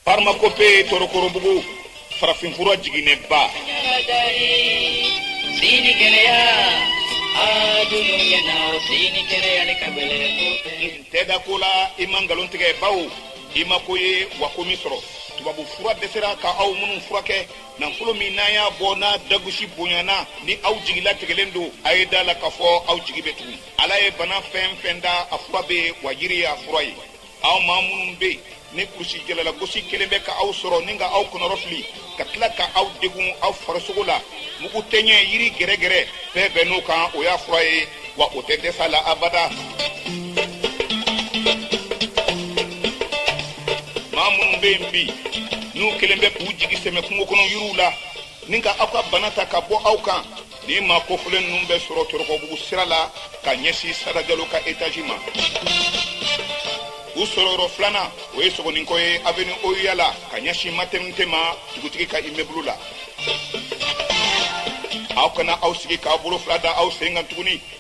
Parmakope Torokorobugu farafinfura jiginɛba. Sini gɛlɛya a dunu ɲɛna sini gɛlɛya ne ka gɛlɛ N tɛ da ko la i ma nkalon tigɛ bawo i ma ko ye wa ko m'i sɔrɔ tubabu fura dɛsɛra ka aw minnu furakɛ nafolo min n'aw y'a bɔ n'a dagosi bonyana ni aw jigi latigɛlen don a ye da a la k'a fɔ aw jigi bɛ tugun ala ye bana fɛn fɛn da a fura bɛ yen wa yiri y'a fura ye aw maa minnu bɛ yen ni kurusijala lagosi kɛlen bɛ ka aw sɔrɔ ni ka aw kɔnɔrɔfili ka tila ka aw degun aw farisogo la mugu tɛɲɛ yiri gɛrɛgɛrɛ bɛɛ bɛn n'o kan o y'a fura ye wa o tɛ dɛsɛ la abada maa minnu bɛ yen bi n'u kɛlen bɛ k'u jigi sɛmɛ kungo kɔnɔ yiriw la ni ka aw ka bana ta ka bɔ aw kan Nin maa kofɔlen ninnu bɛ sɔrɔ Torokɔbugu sira la ka ɲɛsin Sada Jalo ka etazi ma. U sɔrɔyɔrɔ filanan, o ye Sogoninkɔ ye avenue OUA la ka ɲɛsin maternité ma dugutigi ka immeuble la. Aw kana aw sigi k'aw bolo fila da aw sen kan tuguni.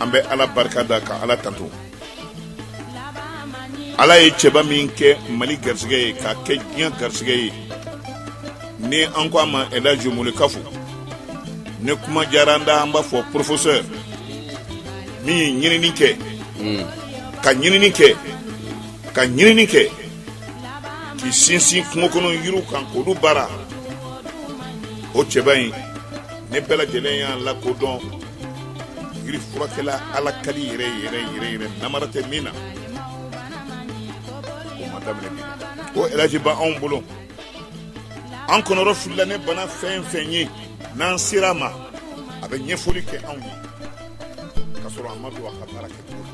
an bɛ ala barika da ka ala tando ala ye cɛba min kɛ mali garisɛgɛ ye ka kɛ diɲɛ garisɛgɛ ye ni an ko a ma elaji Mulekafu ni kuma diyara an da an b'a fɔ porofesɛ min ye ɲinini kɛ hmm. ka ɲinini kɛ ka ɲinini kɛ k'i sinsin kungo kɔnɔ yiriw kan k'olu baara o cɛba in ni bɛɛ lajɛlen y'a lakodɔn yiri furakɛla ala kali yɛrɛ yɛrɛ yɛrɛ yɛrɛ namara tɛ min na o ma daminɛ bi o elaji b'anw bolo an kɔnɔrɔfilila ni bana fɛn fɛn ye n'an sera a ma a bɛ ɲɛfɔli kɛ anw ye ka sɔrɔ a ma don a ka baara kɛ cogo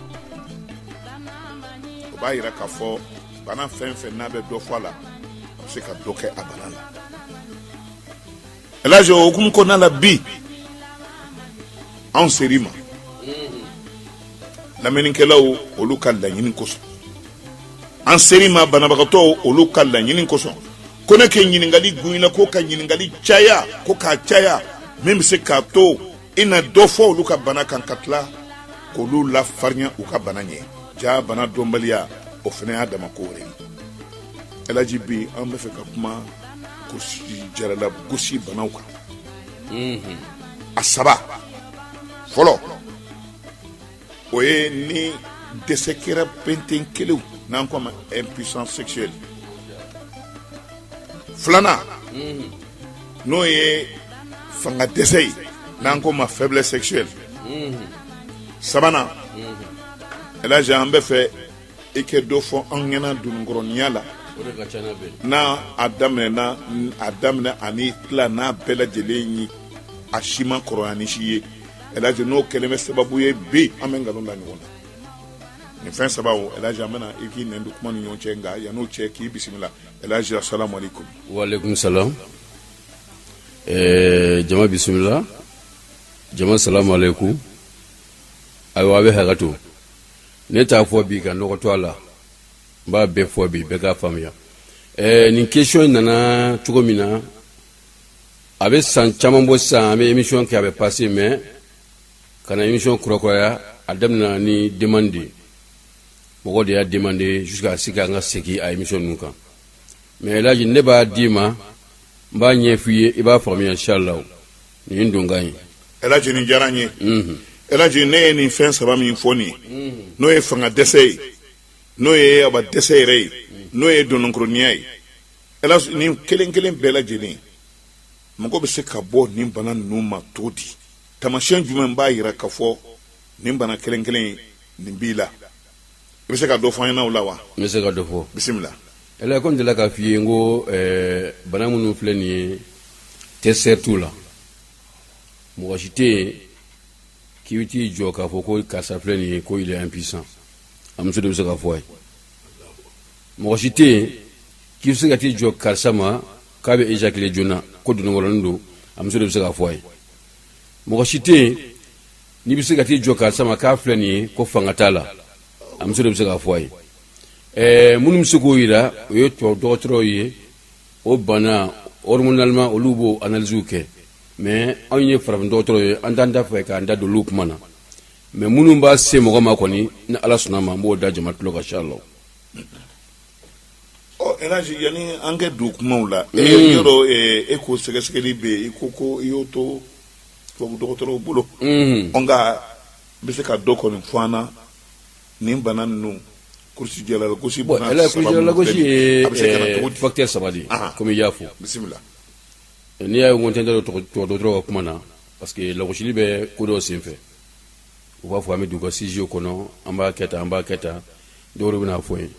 o b'a yira k'a fɔ bana fɛn fɛn n'a bɛ dɔ fɔ a la a bɛ se ka dɔ kɛ a bana la El Hadj o hukumu kɔnɔna la bi anw ser'i ma lamɛnnikɛlaw olu ka laɲini kosɔn an ser'i ma banabagatɔw olu ka laɲini kosɔn ko ne kɛ ɲininkali gunyina ko ka ɲininkali caya ko k'a caya min bɛ se k'a to i na dɔ fɔ olu ka bana kan ka tila k'olu lafarinya u ka bana ɲɛ jaa bana dɔnbaliya o fana y'a dama ko wɛrɛ ye elaji bi an b'a fɛ ka kuma kurusijala lagosi banaw kan a saba fɔlɔ o ye ni dɛsɛ kɛra penten kelen n'an ko ma e psan sɛyɛn filanan n'o ye fanga dɛsɛ ye n'an ko ma fɛn sɛyɛn sabanan an bɛ fɛ i kɛ dɔ fɔ an ɲɛna dononkɔrɔninya la n'a a daminɛ ani tila n'a bɛɛ lajɛlen ye a si ma kɔrɔya ni si ye ɛlhaji n'o kɛlen bɛ sababu ye bi an bɛ nkalon da ɲɔgɔn na nin fɛn saba o ɛlhaji an bɛna i k'i nɛn don kuma ni ɲɔgɔn cɛ nka yan'o cɛ k'i bisimila ɛlhaji asalamu aleykum waaleykum salam eh, jama bisimila jama salamu aleykum ayiwa a bɛ hakɛ to ne t'a fɔ bi ka nɔgɔ to a la n b'a bɛɛ fɔ bi bɛɛ k'a faamuya ɛɛ nin question in nana cogo min na a bɛ san caman bɔ sisan an bɛ émission kɛ a bɛ passer mais ka na émission kurakuraya a daminɛna ni demande de ye mɔgɔ de y'a demande jusqu'à ce k'an ka segin a émission ninnu kan mais elaji ne b'a d'i ma n b'a ɲɛf'i ye i b'a faamuya inshallah nin dun ka ɲi ɛlaji nin diyara n ye ɛlaji ne ye nin fɛn saba min fɔ nin ye n'o ye fanga dɛsɛ ye n'o ye aba dɛsɛ yɛrɛ ye n'o ye dononkɔrɔninya ye ɛlaji nin kelen kelen bɛɛ lajɛlen mɔgɔ bɛ se ka bɔ nin bana ninnu ma cogo di tamasiyɛn jumɛn b'a yira k'a fɔ nin bana kelen kelen nin b'i la i bɛ se ka dɔ fɔ an ɲɛna o la wa n bɛ se ka dɔ fɔ bisimila ɛlɛ ko n delila k'a f'i ye n ko ɛɛ bana minnu filɛ nin ye tɛ seere t'u la mɔgɔ si tɛ yen k'i bɛ t'i jɔ k'a fɔ ko karisa filɛ nin ye ko il est impuissant a muso de bɛ se k'a fɔ a ye mɔgɔ si tɛ yen k'i bɛ se ka t'i jɔ karisa ma k'a bɛ éjaculer joona ko dononkɔrɔnin don a muso de bɛ se k'a fɔ a ye mɔgɔ si tɛ yen n'i bɛ se ka t'i jɔ karisa ma k'a filɛ nin ye ko fanga t'a la a muso de bɛ se k'a fɔ a ye ɛɛ minnu bɛ se k'o yira o ye tubabu dɔgɔtɔrɔw ye o bana hormonalement olu b'o analyse kɛ mais anw ye farafin dɔgɔtɔrɔw ye an t'an da fɛ k'an da don olu kuma na mais minnu b'a se mɔgɔ ma kɔni ni ala sɔnna ma n b'o da jama tulo kan inshallah ɔ ɛlaji yanni an ka don kumaw la ee yɔrɔ e ko sɛgɛsɛgɛli bɛ yen i ko ko i y'o to tubabu dɔgɔtɔrɔw bolo nka bɛ se ka dɔ kɔni fɔ an ɲɛna nin bana ninnu kurusijalalagosi kurusijalalagosi ye facteur saba de kɔmi i y'a fɔ bisimila n'i y'a ye n tɛ n da don dɔgɔtɔrɔw ka kuma na parce que lagosili bɛ ko dɔw senfɛ u b'a fɔ an bɛ don u ka studio kɔnɔ an b'a kɛ tan an b'a kɛ tan dɔw de bɛna fɔ ye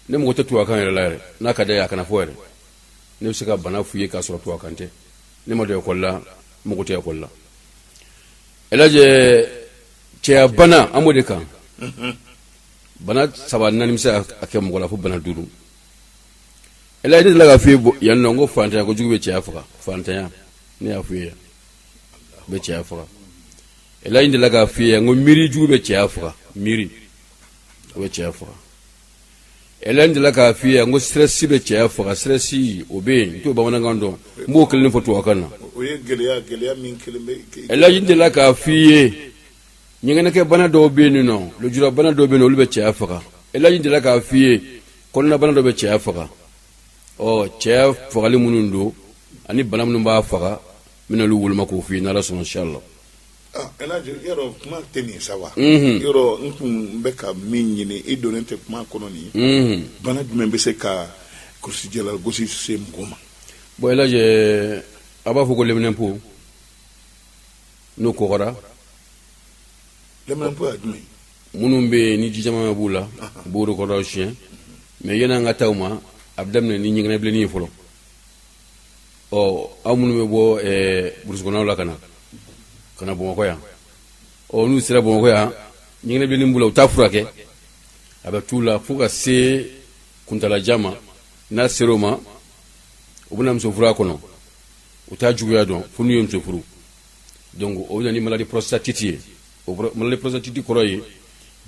ne mago tɛ tubabukan yɛrɛ la yɛrɛ n'a ka d'a ye a kana fɔ yɛrɛ ne bɛ se ka bana f'u ye k'a sɔrɔ tubabukan tɛ ne ma don ekɔli la n mago tɛ ekɔli la El Hadj cɛya bana an b'o de kan bana saba naani bɛ se ka kɛ mɔgɔ la fo bana duuru El Hadj ne delila k'a f'i ye yan nɔ n ko fantanya ko jugu bɛ cɛya faga fantanya ne y'a f'i ye yan bɛ cɛya faga El Hadj n delila k'a f'i ye yan n ko miiri jugu bɛ cɛya faga miiri o bɛ cɛya faga El Hadj n delila k'a f'i ye n ko stress bɛ cɛya faga stress o bɛ yen n t'o bamanankan dɔn n b'o kelen fɔ tubabukan na El Hadj n delila k'a f'i ye ɲɛgɛnɛkɛ bana dɔw bɛ yen nɔ lujurabana dɔw bɛ yen olu bɛ cɛya faga El Hadj n delila k'a f'i ye kɔnɔnabana dɔ bɛ cɛya faga ɔ cɛya fagali minnu don ani bana minnu b'a faga n bɛna olu woloma k'o fɔ i ye n'Ala sɔnna inchallah Yɔrɔ kuma tɛ nin sa wa yɔrɔ n tun bɛ ka min ɲini i donnen tɛ kuma kɔnɔ nin bana jumɛn bɛ se ka kulusijala gosi se mɔgɔ ma bon El Hadj a b'a fɔ ko lɛminɛnpo n'o kɔgɔra lɛminɛnpo ye jumɛn minnu bɛ yen ni jijɛman b'u la u b'o de kɔrɔsi mais yanni an ka taa o ma a bɛ daminɛ ni ɲɛgɛnɛbilenni ye fɔlɔ ɔ aw minnu bɛ bɔ burusikɔnɔnaw la ka na ka na bamakɔ yan ɔ n'u sera bamakɔ yan ɲɛgɛnɛbilenni b'u la u t'a furakɛ a bɛ t'u la fo ka se kuntalajan ma n'a sera o ma u bɛna muso furu a kɔnɔ u t'a juguya dɔn fo n'u ye muso furu donc o bɛ na ni maladie prostatite ye o maladie prostatite kɔrɔ ye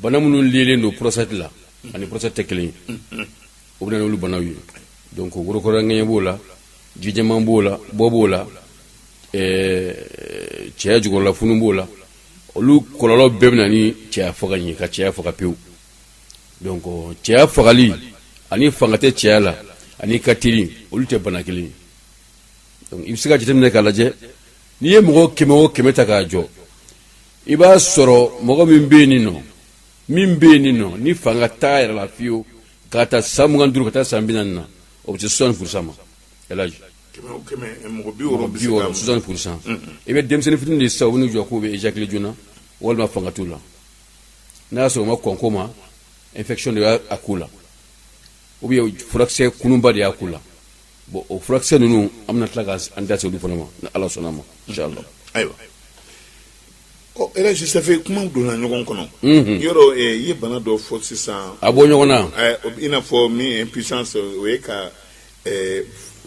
bana minnu liélen don prostate la ani prostate tɛ kelen ye o bɛ na n'olu banaw ye donc worokɔrɔŋɛɲɛ b'o la jijɛman b'o la bɔ b'o la eh, cɛya jukɔrɔla funu b'o la olu kɔlɔlɔ bɛɛ bɛ na ni cɛya faga ye ka cɛya faga pewu donc cɛya fagali ani fanga tɛ cɛya la ani ka teli olu tɛ bana kelen ye donc i bɛ se ka jateminɛ k'a lajɛ n'i ye mɔgɔ kɛmɛ o kɛmɛ ta k'a jɔ i b'a sɔrɔ mɔgɔ min bɛ yen nin nɔ min bɛ yen nin nɔ ni fanga t'a yɛrɛ la fiyewu k'a ta san mugan duuru ka taa san bi naani na o bɛ se soixante pour cent ma El Hadj mɔgɔ bi wɔɔrɔ soixante pour cent i bɛ denmisɛnnin fitini de sisan u bɛ n'u jɔ k'u bɛ éjaculer joona walima fanga t'u la n'a y'a sɔrɔ u ma kɔn ko ma infection de y'a k'u la ou bien furakisɛ kununba de y'a k'u la bon o furakisɛ ninnu an bɛna tila k'an da se olu fana ma ni Ala sɔnna a ma inchallah ayiwa Ɔ El Hadj ça fait kuma donna ɲɔgɔn kɔnɔ yɔrɔ i ye bana dɔ fɔ sisan a bɔ ɲɔgɔn na i n'a fɔ min impuissance o ye ka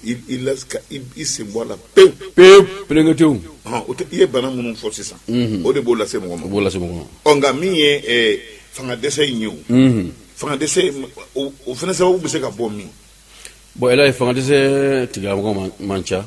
i sen bɔ a la pewu pelenkete i ye bana minnu fɔ sisan o de b'o lase mɔgɔ ma b'o lase ɔ nka min ye fanga dɛsɛ in ye o fanga dɛsɛ o fana sababu bɛ se ka bɔ min bon El Hadj fanga dɛsɛ tigilamɔgɔ man ca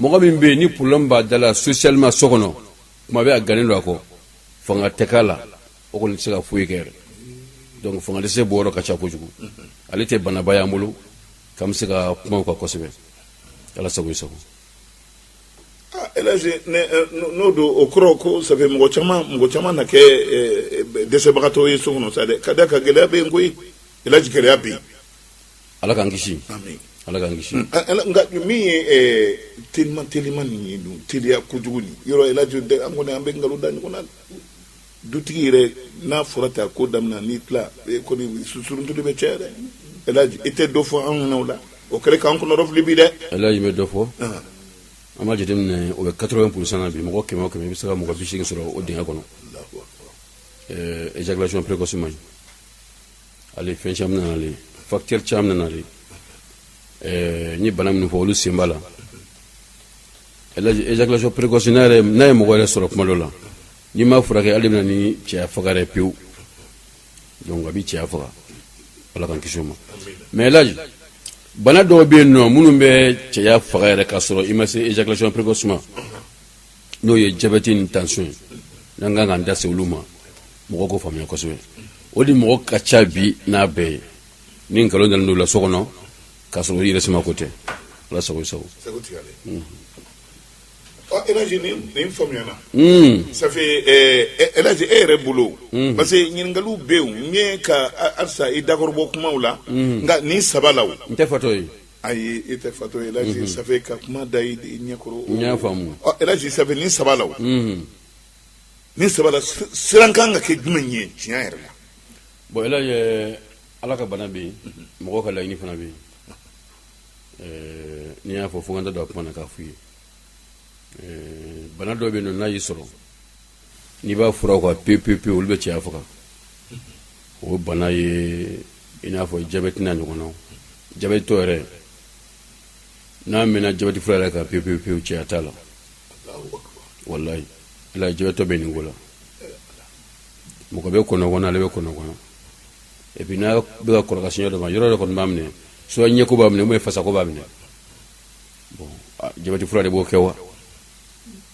mɔgɔ min bɛ yen ni problème b'a da la socialement so kɔnɔ kuma bɛ a gannen don a kɔ fanga tɛ k'a la o kɔni tɛ se ka foyi kɛ yɛrɛ donc fanga dɛsɛ bɔyɔrɔ ka ca kojugu ale tɛ banaba y'an bolo k'an bɛ se ka kuma o kan kosɛbɛ ala sago i sago elaji n'o don o kɔrɔ ko ça fait mɔgɔ mɔgɔ caman na kɛ dɛsɛbagatɔ ye so kɔnɔ sa dɛ ka da ka gɛlɛya bɛ yen koyi elaji gɛlɛya bɛ yen ala k'an kisi ala k'an kisi nka min ye telima telima nin ye dun teliya kojugu nin yɔrɔ elaji an kɔni an bɛ nkalon da ɲɔgɔn na dutigi yɛrɛ n'a fɔra ta ko daminɛ n'i tila kɔni susuruntu bɛ caya dɛ elaji i tɛ dɔ fɔ anw ɲɛna o la o kɛlen k'an kɔnɔrɔfili bi dɛ elaji bɛ dɔ fɔ an b'a jateminɛ o bɛ quatre-vingts pour cent na bi mɔgɔ kɛmɛ o kɛmɛ i bɛ se ka mɔgɔ biseegin sɔrɔ o dingɛ kɔnɔ éjaculation précoce ma ale fɛn caman nana ale facteur caman nana ale ɛɛ n ye bana minnu fɔ olu sen b'a la éjaculation précoce n'a ye mɔgɔ yɛrɛ sɔrɔ kuma dɔ la n'i m'a furakɛ ale de bɛ na ni cɛya faga yɛrɛ pewu donc a bɛ cɛya faga ala k'an kisi o ma mais elaji bana dɔw bɛ yen nɔ minnu bɛ cɛya faga yɛrɛ k'a sɔrɔ i ma se éjaculation précoce ma n'o ye jabɛti ni tension ye n'an kan k'an da se olu ma mɔgɔ k'o faamuya kosɛbɛ o de mɔgɔ ka ca bi n'a bɛɛ ye ni nkalon dalen don la so kɔnɔ k'a sɔrɔ i yɛrɛ sima ko tɛ ala sago i sago ɔ elaji ni nin faamuyana ça fait elaji e yɛrɛ bolo parce que ɲininkaliw bɛ yen n ye ka halisa i dakɔrɔbɔ kumaw la nka nin saba la o n tɛ fatɔ ye Ayi e tɛ fatɔ ye elhadji ça fait ka kuma da i ɲɛ kɔrɔ, n y'a faamu, ɔ elhadji ça fait nin saba la o, unhun, nin saba la siran ka kan ka kɛ jumɛn ye tiɲɛ yɛrɛ la? bon elhadji ɛɛ Ala ka bana bɛ yen, mɔgɔw ka laɲini fana bɛ yen, ɛɛ n'i y'a fɔ fo n ka n da don a kuma na k'a f'u ye, ɛɛ bana dɔ bɛ yen nɔ n'a y'i sɔrɔ n'i b'a fura kan pewu olu bɛ cɛya faga o bana ye i n'a fɔ jabɛti n'a ɲɔgɔnnaw jabɛtitɔ yɛrɛ n'a mɛnna jabɛti fura yɛrɛ kan pewu cɛya t'a la walayi ala jabɛtitɔ bɛ nin ko la mɔgɔ bɛ kɔnɔgan ale bɛ kɔnɔgan et puis n'a bɛ ka kɔrɔ ka sin yɔrɔ dɔ ma yɔrɔ dɔ kɔni b'a minɛ soit ɲɛko b'a minɛ ou bien fasako b'a minɛ bon jabɛti fura de b'o kɛ wa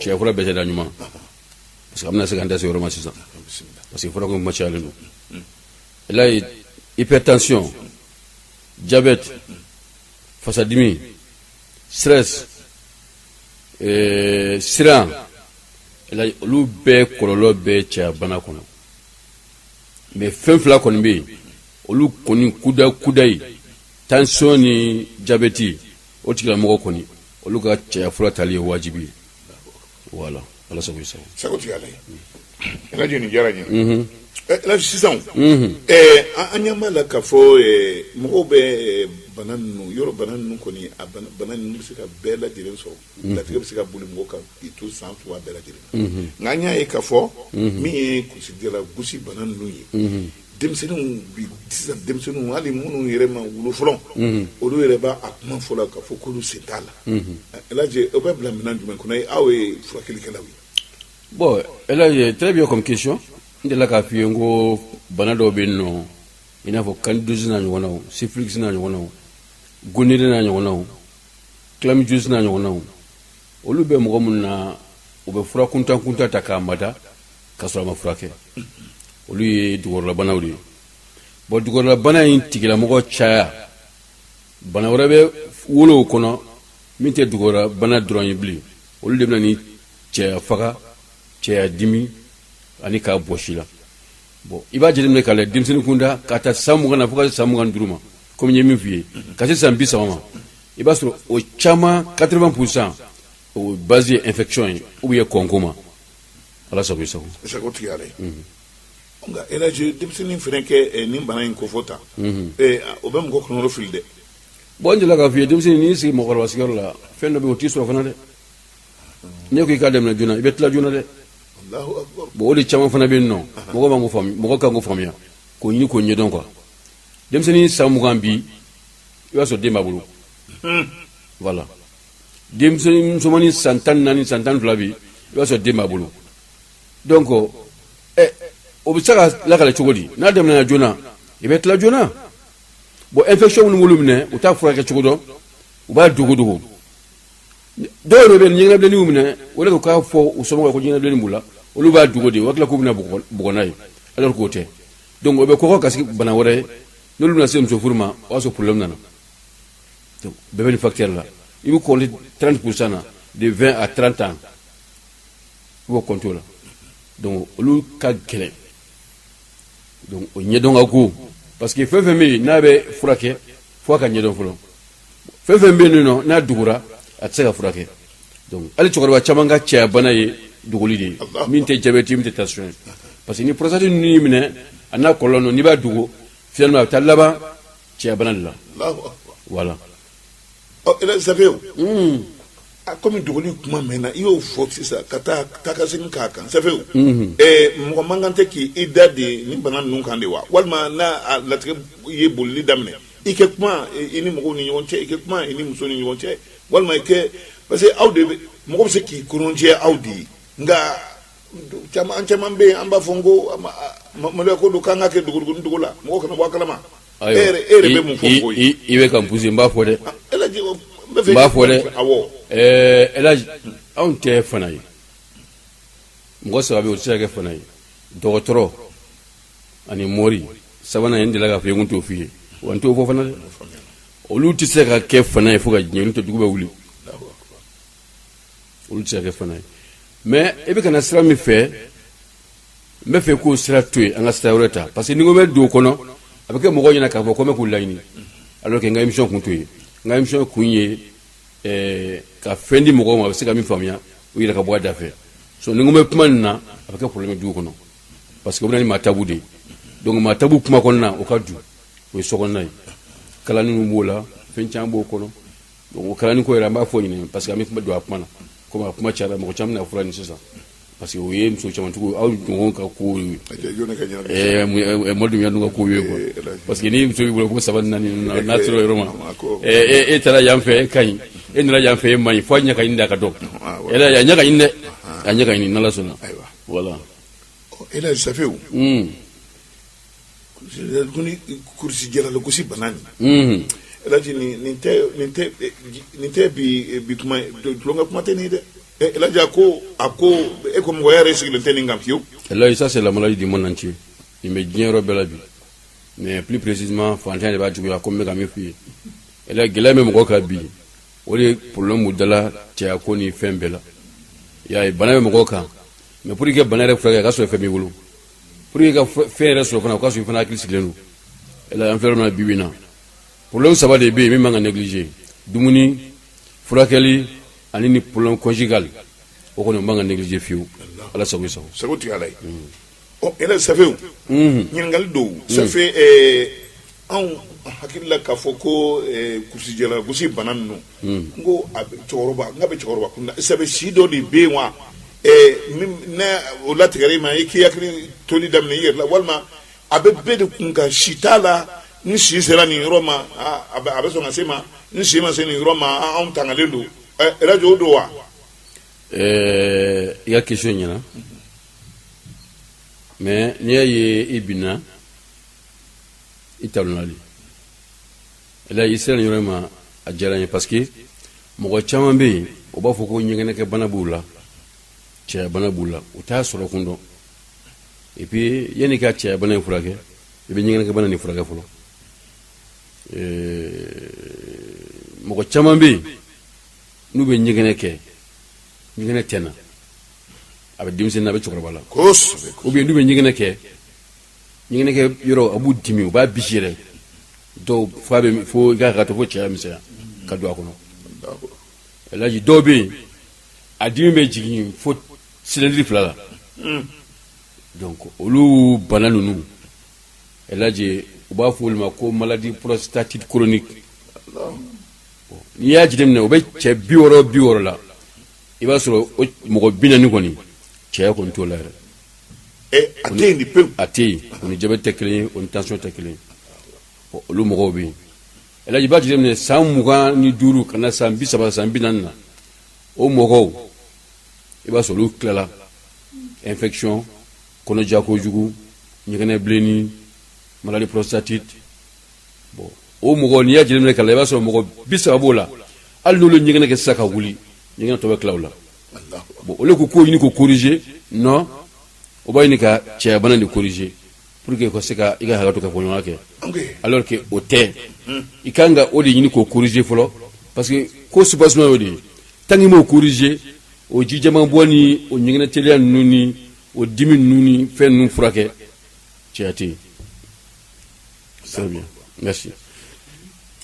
cɛya fura bɛɛ tɛ da ɲuman parce que an bɛna se k'an da se yɔrɔ ma sisan parce que fura ko kuma cayalen don elaji hypertension diabète fasadimi stress eh, siran elaji olu bɛɛ kɔlɔlɔ bɛ cɛya bana kɔnɔ mais fɛn fila kɔni bɛ yen olu kɔni kuda kuda ye tension ni diabète o tigilamɔgɔ kɔni olu ka cɛya fura tali ye wajibi ye voilà ala sago i sago sagotigi ye ala ye elaji nin diyara n ye mhm. elaji sisan mhm. eh, an ɲɛ b'a la k'a fɔ eh, mɔgɔw bɛ bana ninnu yɔrɔ bana ninnu kɔni a bana ninnu bɛ se ka bɛɛ lajɛlen sɔrɔ mhm. latigɛ bɛ se ka boli mɔgɔ kan k'i to san fila bɛɛ lajɛlen nka an y'a ye k'a fɔ min ye kulusijala gosi bana ninnu ye denmisɛnninw bi sisan denmisɛnninw hali minnu yɛrɛ ma wolo fɔlɔ mhm. olu yɛrɛ b'a a kuma fɔ la k'a fɔ k'olu sen t'a la mhm. elaji o bɛ bila minɛn jumɛn kɔnɔ aw ye furakɛlikɛlaw ye bon elaji très bien comme question n delila k'a f'i ye n ko bana dɔw bɛ yen nɔ i n'a fɔ candidose n'a ɲɔgɔnnaw syphilis n'a ɲɔgɔnnaw gonorrhée n'a ɲɔgɔnnaw chlamydiose n'a ɲɔgɔnnaw olu bɛ mɔgɔ minnu na u bɛ fura kuntan kuntan ta k'a mada ka sɔrɔ a ma furakɛ olu ye dugukɔrɔlabanaw de ye bon dugukɔrɔlabana in tigilamɔgɔ caya bana wɛrɛ bɛ wolo o kɔnɔ min tɛ dugukɔrɔlabana dɔrɔn ye bilen olu de bɛ na ni cɛya faga cɛya dimi ani k'a bɔsi la bon i b'a jateminɛ k'a lɛ denmisɛnnin kunda k'a ta san mugan na fo ka se san mugan ni duuru ma komi n ye min f'i ye ka se san bi saba ma i b'a sɔrɔ o caman 80 pourcent o base ye infection ye ou bien kɔnko ma ala sago i sago sagotigi ye ala ye nka elaji denmisɛnnin fana ka nin bana in kofɔ ta o bɛ mɔgɔ kɔnɔrɔfili dɛ bon n delila k'a f'i ye denmisɛnnin n'i sigi mɔgɔkɔrɔba sigiyɔrɔ la fɛn dɔ bɛ yen o t'i sɔrɔ fana dɛ n'i ko i k'a daminɛ joona i bɛ tila joona dɛ bon o de caman fana bɛ yen nɔ mɔgɔ b'an ko faamuya mɔgɔ kan k'o faamuya k'o ɲini k'o ɲɛdɔn quoi denmisɛnnin san mugan bi i b'a sɔrɔ den b'a bolo voilà denmisɛnnin musomannin san tan ni naani san tan ni fila bi i b'a sɔrɔ den b'a bolo donc ɛ o bɛ se ka lakale cogo di n'a daminɛna joona i bɛ tila joona bon infection minnu b'olu minɛ u t'a furakɛ cogo dɔn u b'a dogo dogo dɔw yɛrɛ bɛ ɲɛgɛnɛbilenni y'u minɛ o de ko k'a fɔ u somɔgɔw ko ɲɛgɛnɛbilenni b'u la olu b'a dogo de u hakili la k'u bɛna bugɔ n'a ye alors k'o tɛ donc o bɛ kɔgɔ ka sigi bana wɛrɛ ye n'olu bɛna se muso furu ma o y'a sɔrɔ problème nana bɛɛ bɛ nin facteur la i bɛ compter 30 pourcent na de 20 à 30 ans i b'o compter o la donc olu ka gɛlɛn donc o ɲɛdɔn ka go parce que fɛn fɛn bɛ yen n'a bɛ furakɛ fo a ka ɲɛdɔn fɔlɔ fɛn fɛn bɛ yen nɔ n'a dogora a tɛ se ka furakɛ donc hali cɛkɔrɔba caman ka cɛya bana ye dogoli de ye min tɛ diabète min tɛ tension ye parce que ni prostate ninnu y'i minɛ a n'a kɔlɔlɔ ninnu n'i b'a dogo finalement a bɛ taa laban cɛya bana de la Allahu akbar. voilà Ɔ, Ɛla Safew, a komi dogoli kuma mɛnna i y'o fɔ sisan ka taa ka segin k'a kan Safew ɛɛ mɔgɔ man kan tɛ k'i i da de nin bana ninnu kan de wa walima n'a a latigɛ ye bolili daminɛ i kɛ kuma i i ni mɔgɔw ni ɲɔgɔn cɛ i kɛ kuma i ni muso ni ɲɔgɔn cɛ walima i kɛ parce que aw de mɔgɔ bɛ se k'i kɔnɔjɛ aw de ye nka Caman caman bɛ yen an b'a fɔ n ko maloya ko don k'an k'a kɛ dogo dogo la mɔgɔ kana bɔ a kala ma e yɛrɛ bɛ mun fɔ i bɛ ka n pousser n b'a fɔ dɛ n b'a fɔ dɛ anw tɛ fana ye mɔgɔ saba bɛ yen o tɛ se ka kɛ fana ye dɔgɔtɔrɔ ani mori sabanan n delila k'a fɔ n t'o f'i ye wa n t'o fɔ fana dɛ olu tɛ se ka kɛ fana ye fo ka diɲɛ to dugu bɛ wuli olu tɛ se ka kɛ fana ye mais e bɛ ka na sira min fɛ n bɛ fɛ k'o sira to yen an ka sira wɛrɛ ta parce que ni n ko n bɛ don o kɔnɔ a bɛ kɛ mɔgɔw ɲɛna k'a fɔ ko n bɛ k'u laɲini alors que n ka émission kun t'o ye n ka émission kun ye eh, ka fɛn di mɔgɔw ma a bɛ se ka min faamuya u yɛrɛ ka bɔ a da fɛ so ni n ko n bɛ kuma nin na a bɛ kɛ problème ye du kɔnɔ parce que o bɛ na ni maa tabu de ye donc maa tabu kuma kɔnɔna o ka dun o ye sokɔnɔna ye kalanni b'o la fɛn caman b'o kɔnɔ donc o kalanni ko yɛrɛ an b'a fɔ ɲinɛ parce que an bɛ kuma don a kuma na komi a kuma cayara mɔgɔ caman bɛna fura ɲini sisan parce que o ye muso camantigiw aw ɲɔgɔn ka kow ye mɔdun yanu ka kow ye quoi parce que ni muso b'i bolo ko saba naani n'a sera yɔrɔ ma e taara yan fɛ e ka ɲi e nana yan fɛ e man ɲi fo a ɲɛ ka ɲini de a ka dɔn a ɲɛ ka ɲini dɛ a ɲɛ ka ɲini n'Ala sɔnna voilà Ɛla Safew kulusijala gosi bana nin Ɛla nin tɛ bi kuma tulonkɛ kuma tɛ nin dɛ e ko a ko e ko mɔgɔ yɛrɛ sigilen tɛ nin kan fiyewu Elhaji ça c'est la maladie du monde entier nin bɛ diɲɛ yɔrɔ bɛɛ la bi mais plus précisément faantan de b'a juguya komi n bɛ ka min f'i ye Ɛla gɛlɛya bɛ mɔgɔ kan bi o de problème b'u dala cɛya ko ni fɛn bɛɛ la bana bɛ mɔgɔ kan mais pour que bana yɛrɛ furakɛ a ka sɔrɔ fɛn b'i bolo pour que ka fɛn yɛrɛ sɔrɔ fana o ka sɔrɔ i fana hakili sigilen don Ɛla an filɛ min na bi bi in na problème saba de bɛ yen min man ka négliger dumuni furakɛli ani nin problème conjugal o kɔni man ka négliger fiyewu Ala sago i sago sago tigi Ala ye ɔ Ɛla Safew ɲininkali dɔw Safew anw hakili la k'a fɔ ko kulusijala gosi bana ninnu n ko a bɛ cɛkɔrɔba n k'a bɛ cɛkɔrɔba kun na sabu si dɔ de bɛ yen wa ɛɛ min n'a o latigɛra i ma i k'i hakili toli daminɛ i yɛrɛ la walima a bɛ bɛɛ de kun kan si t'a la ni si sera nin yɔrɔ ma aa a bɛ a bɛ sɔn ka se ma ni si ma se nin yɔrɔ ma aa, anw tangalen don ɛɛ ɛlaji o don wa Ɛɛ, i ka question ɲɛna mais n'i y'a ye i binna i talonna de ɛlaji i sera nin yɔrɔ in ma a diyara n ye parce que mɔgɔ caman bɛ yen o b'a fɔ ko ɲɛgɛnɛkɛ bana b'u la cɛya bana b'u la u t'a sɔrɔ kun dɔn et puis yanni ka cɛya bana in furakɛ i bɛ ɲɛgɛnɛkɛ bana nin furakɛ fɔlɔ mɔgɔ caman bɛ yen n'u bɛ ɲɛgɛnɛ kɛ ɲɛgɛnɛ tɛ na a bɛ denmisɛnnin na a bɛ cɛkɔrɔba la kosɛbɛ ou bien n'u bɛ ɲɛgɛnɛ kɛ ɲɛgɛnɛkɛ yɔrɔ a b'u dimi u b'a bisi yɛrɛ dɔw fo a bɛ fo i ka hakɛ to fo cɛya misɛnya ka don a kɔnɔ alaji dɔw bɛ yen a dimi bɛ jigin fo silɛndiri fila la donc olu bana ninnu alaji u b'a fɔ olu ma ko maladie prostatite chronique n'i y'a jateminɛ o bɛ cɛ bi wɔɔrɔ bi wɔɔrɔ la i b'a sɔrɔ mɔgɔ bi naani kɔni cɛya kɔni t'o la yɛrɛ a tɛ yen o ni jabɛti tɛ kelen o ni tension tɛ kelen olu mɔgɔw bɛ yen alaji i b'a jateminɛ san mugan ni duuru ka na san bi saba san bi naani na o mɔgɔw i b'a sɔrɔ olu tilala infection kɔnɔja kojugu ɲɛgɛnɛ bilenni maladie prostatite bon o mɔgɔ n'i y'a jateminɛ ka i b'a sɔrɔ mɔgɔ bi saba b'o la hali n'olu ɲɛgɛnɛ kɛ sisan ka wuli ɲɛgɛnɛ tɔ bɛ kilaw la bon olu ko k'o ɲini k'o corriger non o b'a ɲini ka cɛya bana de corriger pour que ka se ka i ka hakɛ to kafoɲɔgɔnya kɛ alors que o tɛ i ka kan ka o de ɲini k'o corriger fɔlɔ parce que ko soubassement y'o de ye tant que i m'o corriger o ji jɛman bɔ ni o ɲɛgɛnɛ teliya ninnu ni o dimi ninnu ni fɛn ninnu furakɛ cɛya tɛ yen Très bien. Merci.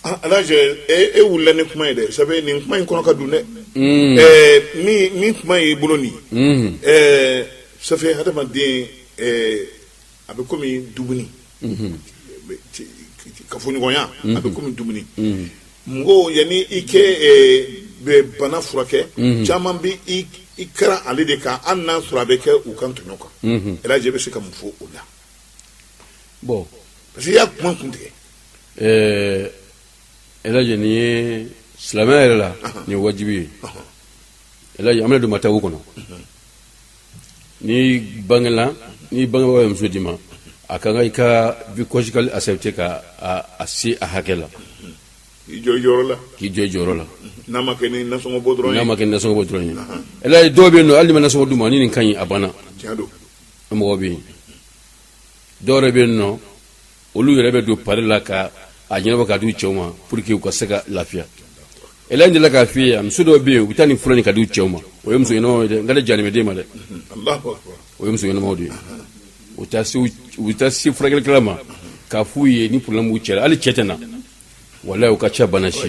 Ah, alaji e wulila ni kuma ye dɛ sabu nin kuma in kɔnɔ ka dun dɛ hmm. eh, min min kuma y'i bolo nin hmm. eh, ça fait hadamaden eh, a bɛ komi dumuni hmm. kafoɲɔgɔnya a bɛ komi dumuni mɔgɔw yanni i k'i bɛ bana furakɛ mhm. caman bɛ i kari ale de kan hali n'a sɔrɔ a bɛ kɛ u kan tɔɲɔ kan mhm. ɛlaji bɛ se ka mun fɔ o la bon parce que i y'a kuma kun tigɛ ɛɛ elhadji nin ye silamɛya yɛrɛ la nin ye wajibi ye elhadji an bɛna don matabu kɔnɔ n'i bangela n'i bangebaaw ye muso d'i ma a ka kan i ka vie conjugale accepter ka a a se a hakɛ la i jɔ i jɔyɔrɔ la k'i jɔ i jɔyɔrɔ la n'a ma kɛ ni nasɔngɔ bɔ dɔrɔn ye n'a ma kɛ nasɔngɔ bɔ dɔrɔn ye elhadji dɔw bɛ yen nɔ hali n'i ma nasɔngɔ d'u ma ni nin ka ɲi a banna tiɲɛ don mɔgɔ bɛ yen dɔw yɛrɛ bɛ yen nɔ olu yɛrɛ bɛ don pari la ka a ɲɛnabɔ ka di u cɛw ma pour que u ka se ka lafiya elhadji delila k'a f'i ye muso dɔw bɛ yen u bɛ taa nin fura ɲini ka di u cɛw ma o ye muso ɲɛnamaw ye dɛ nka ne jalen bɛ den ma dɛ o ye muso ɲɛnamaw de ye u bɛ taa se u bɛ taa se furakɛlikɛla ma k'a f'u ye ni problème b'u cɛ la hali cɛ tɛ na walayi u ka ca bana si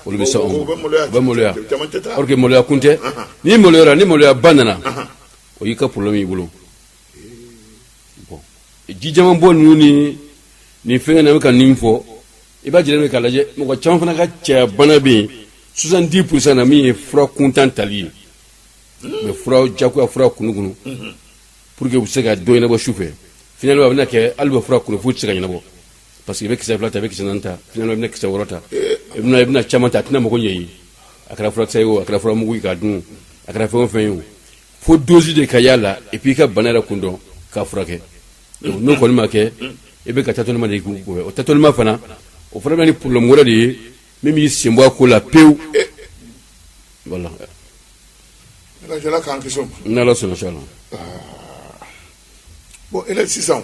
olu bɛ se anw ma u bɛ maloya or que maloya kun tɛ n'i maloyara ni maloyaba nana o y'i ka problème y'i bolo bon ji jɛman bɔ ninnu ni nin fɛngɛ na bɛ ka nin fɔ i b'a jateminɛ k'a lajɛ mɔgɔ caman fana ka cɛya bana bɛ yen 70 pourcent na min ye fura kuntan tali ye mais fura jagoya fura kunukunu pour que u bɛ se ka dɔ ɲɛnabɔ su fɛ finalement a bɛna kɛ hal'u bɛ fura kunu f'u tɛ se ka ɲɛnabɔ parce que i bɛ kisɛ fila ta i bɛ kisɛ naani ta finalement i bɛna kisɛ wɔɔrɔ ta i bɛna i bɛna caman ta a tɛna mago ɲɛ i ye a kɛra furakisɛ ye o a kɛra furamugu ye k'a dun a kɛra fɛn o fɛn ye o fo dose de ka y'a la et puis i ka bana yɛrɛ kun dɔn k'a furakɛ donc n'o kɔni ma kɛ i bɛ ka tâtonnement de k'o kɔfɛ o tâtonnement fana o fana bɛ ni problème wɛrɛ de ye min b'i senbɔ a ko la pewu voilà n'ala sɔnna inchallah bon elhadji sisan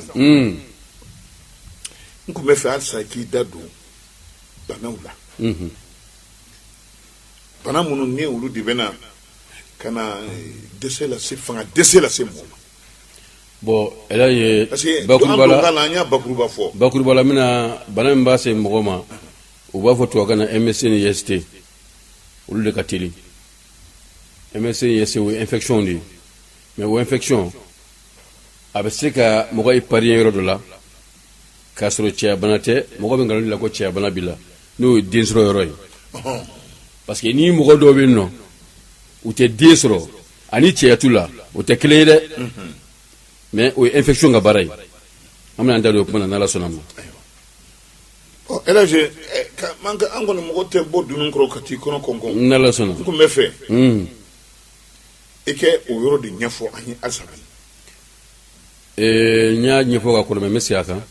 n tun bɛ fɛ halisa k'i da don banaw la bana minnu ni olu de bɛna ka na eh, dɛsɛ lase fanga dɛsɛ lase mɔgɔ ma bon elhadji parce que an bakuruba don la kan na an y'a bakuruba fɔ bakuruba la mina bana min b'a se mɔgɔ ma u b'a fɔ tubabukan na mst ni ist olu de ka teli mst ni ist o ye infection de ye mais o infection a bɛ se ka mɔgɔ épargner yɔrɔ dɔ la k'a sɔrɔ cɛyabana tɛ mɔgɔ bɛ nkalon la ko cɛyabana b'i la n'o ye den sɔrɔ yɔrɔ ye parce que ni mɔgɔ dɔw bɛ yen nɔ u tɛ den sɔrɔ ani cɛya t'u la o tɛ kelen ye dɛ mais o ye infection ka baara ye an bɛna an da don o kuma na n'ala sɔnna ma ɔ elhadji an kɔni mɔgɔ tɛ bɔ dunun kɔrɔ ka t'i kɔnɔ kɔnkɔn n'ala sɔnna n tun bɛ fɛ I kɛ o yɔrɔ de ɲɛfɔ an ye halisa n y'a ɲɛfɔ ka kɔrɔ mais n bɛ segin a kan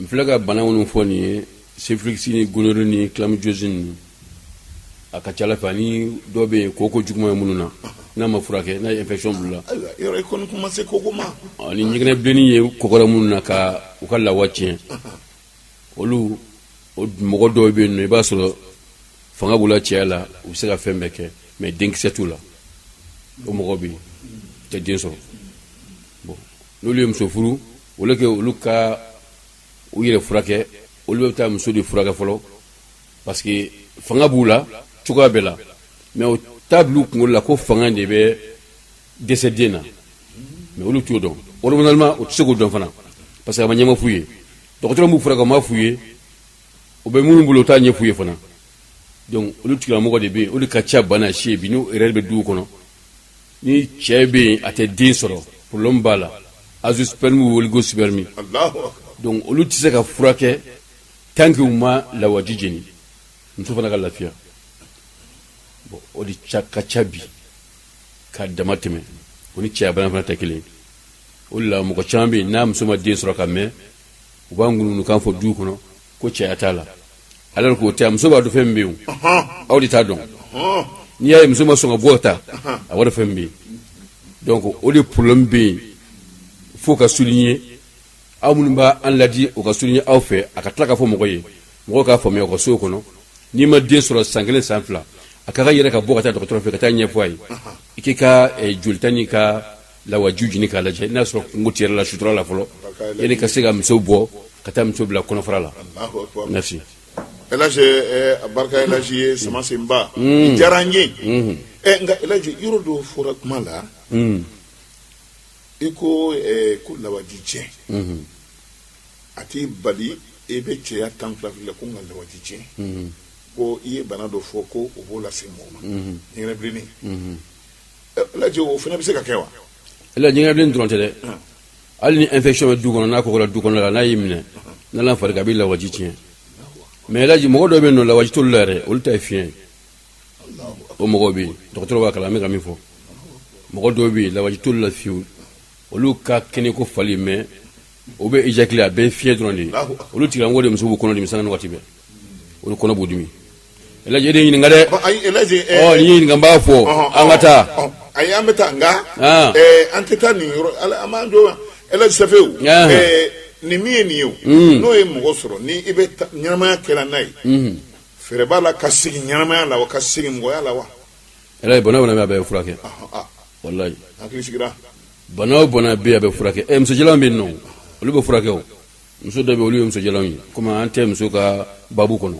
n filɛ ka bana minnu fɔ nin ye syphilis ni gonorrhée ni chlamydiose ninnu a ka ca la fɛ ani dɔ bɛ yen koko juguman ye minnu na n'a ma furakɛ n'a ye infection bila ma se koko ma ni ɲɛgɛnɛbilennin ye kɔgɔra minnu na ka u ka lawa tiɲɛ olu o mɔgɔ dɔw bɛ yen nɔ i b'a sɔrɔ fanga b'u la cɛya la u bɛ se ka fɛn bɛɛ kɛ mais denkisɛ t'u la o mɔgɔ bɛ yen u tɛ den sɔrɔ bon n'olu ye muso furu olu kɛ olu ka u yɛrɛ furakɛ olu bɛ taa muso de furakɛ fɔlɔ parce que fanga b'u la cogoya bɛɛ la mais u t'a bila u kunkolo la ko fanga de bɛ dɛsɛ den na mais olu t'o dɔn walima u tɛ se k'o dɔn fana parce que a ma ɲɛma f'u ye dɔgɔtɔrɔ b'u furakɛ o ma f'u ye u bɛ minnu bolo u t'a ɲɛ f'u ye fana donc olu tigilamɔgɔ de bɛ yen olu ka ca bana si bi n'u yɛrɛ bɛ duw kɔnɔ ni cɛ bɛ yen a tɛ den sɔrɔ problème b'a la azoosperme ou oligosperme donc olu tɛ se ka furakɛ tant que u ma lawaji ɲini muso fana ka lafiya bon o de ka ca bi ka dama tɛmɛ o ni cɛya bana fana tɛ kelen o de la mɔgɔ caman bɛ yen n'a muso ma den sɔrɔ ka mɛn u b'a ŋunuŋunukan fɔ du kɔnɔ ko cɛya t'a la alors que o tɛ muso b'a dɔn fɛn min bɛ yen aw de t'a dɔn n'i y'a ye muso ma sɔn ka bɔ ta a wari fɛn bɛ yen donc o de problème bɛ yen fo ka souligner aw minnu b'a an ladi o ka souligner aw fɛ a ka tila k'a fɔ mɔgɔ ye mɔgɔ k'a faamuya u ka sow kɔnɔ n'i ma den sɔrɔ san kelen san fila a ka ka yɛrɛ ka bɔ ka taa dɔgɔtɔrɔ fɛ ka taa ɲɛfɔ a ye i k'i ka eh, jolita n'i ka lawaji ɲini k'a lajɛ n'a sɔrɔ kunko t'i yɛrɛ la sutura la fɔlɔ yani i ka se ka muso bɔ ka taa muso bila kɔnɔfara la merci ɛlaji eh, a barika ɛlaji ye sama senba diyara n ye Eh, nka ɛlaji yɔrɔ dɔ fɔra kuma la i ko eh, ko lawaji tiɲɛ mhm. a t'i bali i bɛ cɛya tan fila fila ko nka lawaji tiɲɛ mhm. ko i ye bana dɔ fɔ ko o b'o lase mɔgɔ ma mhm. ɲɛgɛnɛbilennin eh, laji o fana bɛ se ka kɛ wa laji ɲɛgɛnɛbilennin dɔrɔn tɛ dɛ ah. hali ni infection bɛ du kɔnɔ n'a kɔgɔra du kɔnɔ la n'a y'i minɛ ah. n'ala fari ka a bɛ lawaji tiɲɛ mais laji mɔgɔ dɔ bɛ yen nɔ lawaji t'olu la yɛrɛ olu ta ye fiɲɛ ye o mɔgɔw bɛ yen dɔgɔtɔrɔ b'a kalama n bɛ ka min fɔ mɔgɔ dɔw bɛ yen lawaji t'olu la fiyewu olu ka kɛnɛ ko fali mais u bɛ éjaculer a bɛɛ fiɲɛ dɔrɔn de ye olu tigilamɔgɔ de muso b'u kɔnɔ dimi sanga ni waati bɛɛ olu kɔnɔ b'u dimi ɛlaji e de ɲininka dɛ ɔ n'i ye n ɲininka n b'a fɔ an ka taa ayi an bɛ taa nka an tɛ taa nin yɔrɔ an b'an jɔ ɛlaji safewu nin min ye nin ye n'o ye mɔgɔ sɔrɔ ni i bɛ ɲɛnamaya kɛla n'a ye fɛrɛ b'a la ka segin ɲɛnamaya la wa ka segin mɔgɔya la wa elaji bana o bana bɛ a bɛ furakɛ walayi hakili sigira bana o bana bɛ a bɛ furakɛ ɛ muso jalanw bɛ yen nɔ olu bɛ furakɛ o muso dɔ bɛ yen olu ye muso jalanw ye komi an tɛ muso ka babu kɔnɔ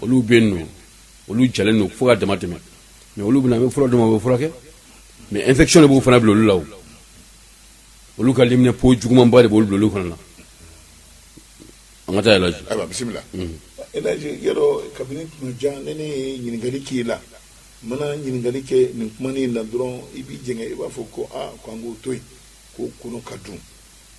olu bɛ yen nɔ olu jalen don fo ka dama tɛmɛ mais olu bɛ na an bɛ fura d'u ma u bɛ furakɛ mais infection de b'u fana bila olu la o olu ka leminanpo jugumanba de b'olu bila olu fana na An ka taa El Hadji. Ayiwa bisimila. Unhun. El Hadji i y'a dɔn kabini tuma jan ni ne ye ɲininkali k'i la, n mana ɲininkali kɛ nin kumani in na dɔrɔn, i b'i jɛngɛ, i b'a fɔ ko aa ko an k'o to yen, k'o kɔnɔ ka dun.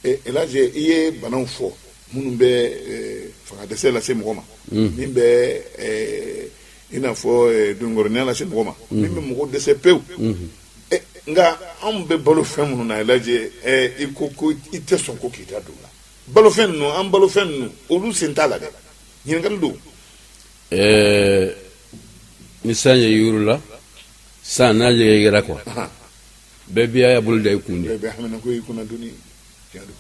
Ɛ El Hadji i ye banaw fɔ minnu bɛ ɛ fangadɛsɛ lase mɔgɔ ma. Unhun. Min bɛ ɛ i n'a fɔ ɛ doninkɔrɔninya lase mɔgɔ ma. Unhun. Min bɛ mɔgɔ dɛsɛ pewu. Unhun. Ɛ nka anw bɛ balo fɛn minnu na El Hadji ɛ i ko ko i tɛ sɔn ko k'i da don o la. balofɛn ninnu an balofɛn ninnu olu sen t'a la dɛ ɲininkali don ɛɛ ni san ye yuru la san n'a yɛrɛyɛrɛ quoi bɛɛ b'i y'a bolo da i kun de bɛɛ haminanko i kunna doni tiɲɛ don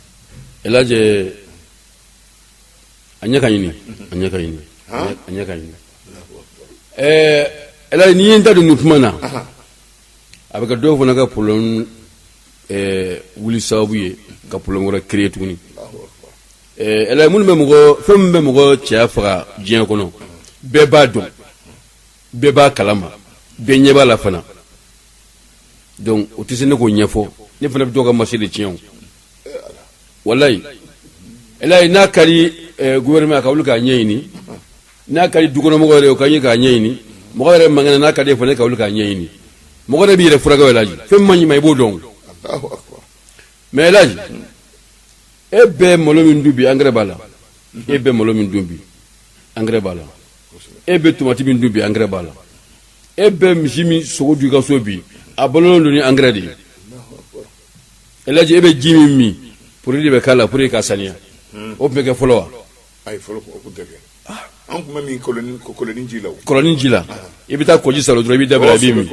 elajɛ a ɲɛ ka ɲini a ɲɛ ka ɲini a ɲɛ ka ɲini ɛɛ elajɛ n'i ye n da don nin kuma na a bɛ kɛ dɔw fana ka problème ɛɛ wuli sababu ye ka problème wɛrɛ créer tuguni ɛɛ elaji minnu bɛ mɔgɔ fɛn min bɛ mɔgɔ cɛya faga diɲɛ kɔnɔ bɛɛ b'a dɔn bɛɛ b'a kalama bɛɛ ɲɛ b'a la fana donc o tɛ se ne k'o ɲɛfɔ ne fana bɛ dɔ ka marché de tiɲɛ o walayi elaji n'a ka di ɛɛ gouvernement ka wuli k'a ɲɛɲini n'a ka di dukɔnɔmɔgɔ yɛrɛ o ka ɲi k'a ɲɛɲini mɔgɔ yɛrɛ man kɛnɛ n'a ka di fana ka wuli k'a ɲɛɲini mɔgɔ yɛrɛ b'i yɛrɛ furakɛ o laji fɛn min man ɲi i ma i b'o dɔn mais laji e bɛ malo min dun bi angɛrɛ b'a la e bɛ malo min dun bi angɛrɛ b'a la e bɛ tomati min dun bi angɛrɛ b'a la e bɛ misi min sogo dun i ka so bi a balolen don ni angɛrɛ de ye elaji e bɛ ji min min produit de bɛ k'a la pour que k'a saniya o tun bɛ kɛ fɔlɔ wa Ayi fɔlɔ ko tɛ an tun bɛ min kɔlɔnnin ji la kɔlɔnnin ji la i bɛ taa kɔji saalo dɔrɔn i b'i da bila i b'i min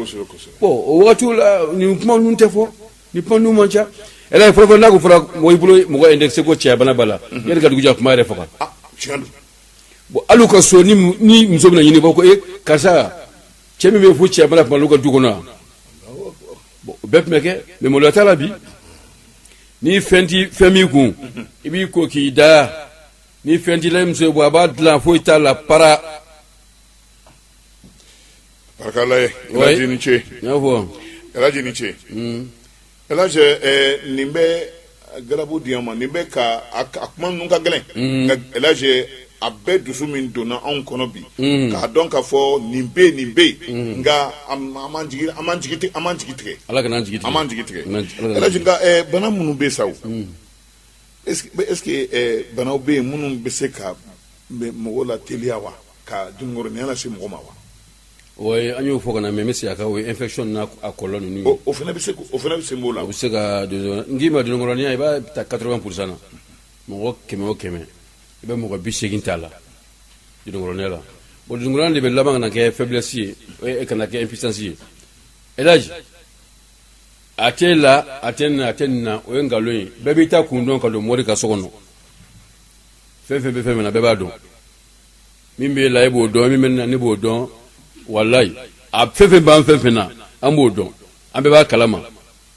bon o waati la nin kuma ninnu tɛ fɔ nin kuma ninnu man ca elaji fɔlɔ n'a fɔra mɔgɔ bolo mɔgɔ indexé ko cɛya bana b'a la yanni ka dugu jɛ o b'a yɛrɛ faga bon hali ka so ni muso bɛ ɲini ko e karisa cɛ min bɛ fo cɛya bana b'olu ka du kɔnɔ bɛɛ tun bɛ kɛ mais maloya t'a la bi ni fɛn t'i fɛ min kun i b'i ko k'i da ni fɛn t'i la i muso ye bɔ a b'a dilan foyi t'a la bara barika Ala ye Ouais. elaji ni ce n y'a fɔ elaji ni ce elaji eh, nin bɛ galabu di an ma nin bɛ ka a a kuma ninnu ka gɛlɛn nka elaji a bɛɛ dusu min donna anw kɔnɔ bi k'a dɔn k'a fɔ nin bɛ nin bɛ yen nka an m'an jigi tigɛ an m'an jigi tigɛ bana minnu bɛ sa o est-ce que banaw bɛ yen minnu bɛ se ka mɔgɔw la teliya wa ka dununkɔrɔninya lase mɔgɔ ma wa oui an y'o fɔ ka mais n bɛ segin a kan o ye infection n'a kɔlɔlɔ ninnu o fana bɛ se o fana bɛ se' la u bɛ se ka n k'i ma dununkɔrɔninya i b'a ta quatre-vingts pour cent na mɔgɔ kɛmɛ o kɛmɛ i bɛ mɔgɔ bi seegin t'a la dununkɔrɔninya la bon dununkɔrɔninya de bɛ laban ka na kɛ faiblesse ye eh, ka na kɛ impuissance ye Elaj a t'e la a tɛ n na a tɛ nin na o ye nkalon ye bɛɛ b'i taakun dɔn ka don mori ka so kɔnɔ fɛn fɛn bɛ fɛn min na bɛɛ b'a dɔn min b'e la e b'o dɔn min bɛ n na ne b'o dɔn walayi a fɛn fɛn b'an fɛn fɛn na an b'o dɔn an bɛɛ b'a kalama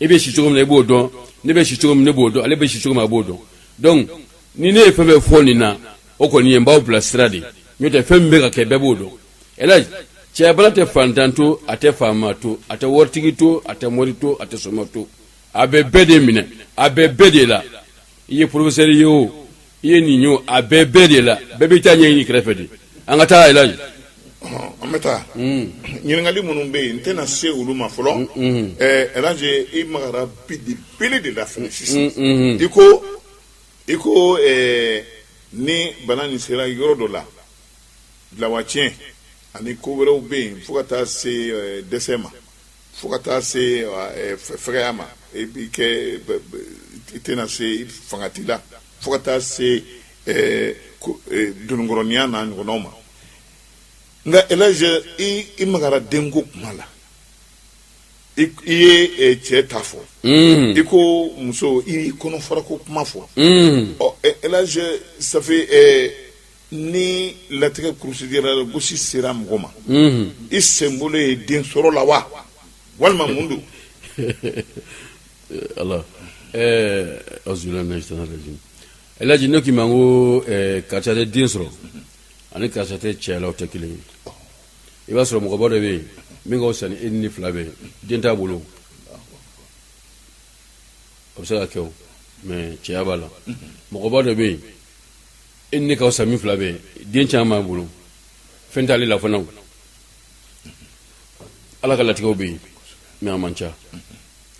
e bɛ si cogo min na e b'o dɔn ne bɛ si cogo min ne b'o dɔn ale bɛ si cogo min a b'o dɔn donc ni ne ye fɛn fɛn fɔ nin na o kɔni ye n b'aw bila sira de n'o tɛ fɛn min bɛ ka kɛ bɛɛ b'o dɔn Elaj cɛyabana tɛ fantan to a tɛ faama to a tɛ waritigi to a tɛ mori to a tɛ soma to a bɛ bɛɛ de minɛ a bɛ bɛɛ de la i ye professeur ye o i ye nin ye o a bɛ bɛɛ de la bɛɛ b'i ta ɲɛɲini kɛrɛfɛ de an ka taa Elaj an bɛ taa hmm. ɲininkali minnu bɛ yen n tɛna se olu ma fɔlɔ hmm, hmm. eh, Elaj i magara belebele de la fɛnɛ sisan i ko i ko eh, ni bana nin sera yɔrɔ dɔ la dɛ lawatiɲɛ ani ko wɛrɛw bɛ yen fo ka taa se eh, dɛsɛ ma fo ka taa se eh, fɛgɛya ma i b'i kɛ i tɛna se fanga t'i la fo ka taa se eh, eh, dononkɔrɔninya n'a ɲɔgɔnnaw ma nka Elaj i magara denko kuma la i ye cɛ ta fɔ hmm. i ko muso i kɔnɔfarako kuma fɔ hmm. ɔ Elaj ça fait Ni latigɛ kurusijala gosi sera mɔgɔ ma i sen bɔlen ye den sɔrɔ la wa walima mun don ala Elaj ne k'i ma ko karisa tɛ den sɔrɔ ani karisa tɛ cɛya la o tɛ kelen ye i b'a sɔrɔ mɔgɔba dɔ bɛ yen min ka fisa ni e ni n fila bɛɛ den t'a bolo a bɛ se ka kɛ mais cɛya b'a la mɔgɔba dɔ bɛ yen e ne ka fisa min fila bɛɛ den caman b'a bolo fɛn t'ale la fana ala ka latigɛw bɛ yen mais a man ca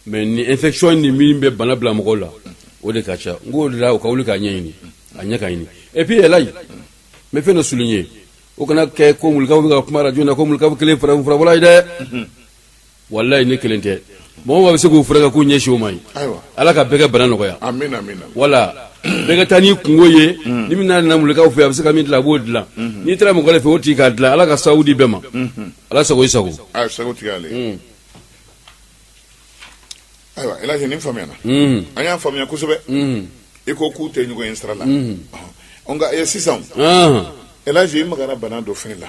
mais ni infection ni min bɛ bana bila mɔgɔw la o de ka ca n k'o de la o ka wuli k'a ɲɛɲini a ɲɛ ka ɲini et puis Elaj n bɛ fɛn dɔ souligner o kana kɛ ko mulikaw bɛ ka kuma arajo na ko mulikaw kelen farafinfurabɔla ye dɛ walayi ne kelen tɛ mɔgɔ mɔgɔ bɛ se k'u furakɛ k'u ɲɛsin o ma ye ala ka bɛɛ ka bana nɔgɔya wala bɛɛ ka taa n'i kunko ye ni bɛna namulikaw fɛ a bɛ se ka min dilan a b'o dilan n'i taara mɔgɔ de fɛ o tigi k'a dilan ala ka sababu di bɛɛ ma ala sago i sago ayiwa el hadj nin faamuyana mm-hmm. an y'a faamuya kosɛbɛ mm-hmm. i ko k'u tɛ ɲɔgɔn ye sira la mm-hmm. nka eh, sisan el hadj i magara bana dɔ fɛn la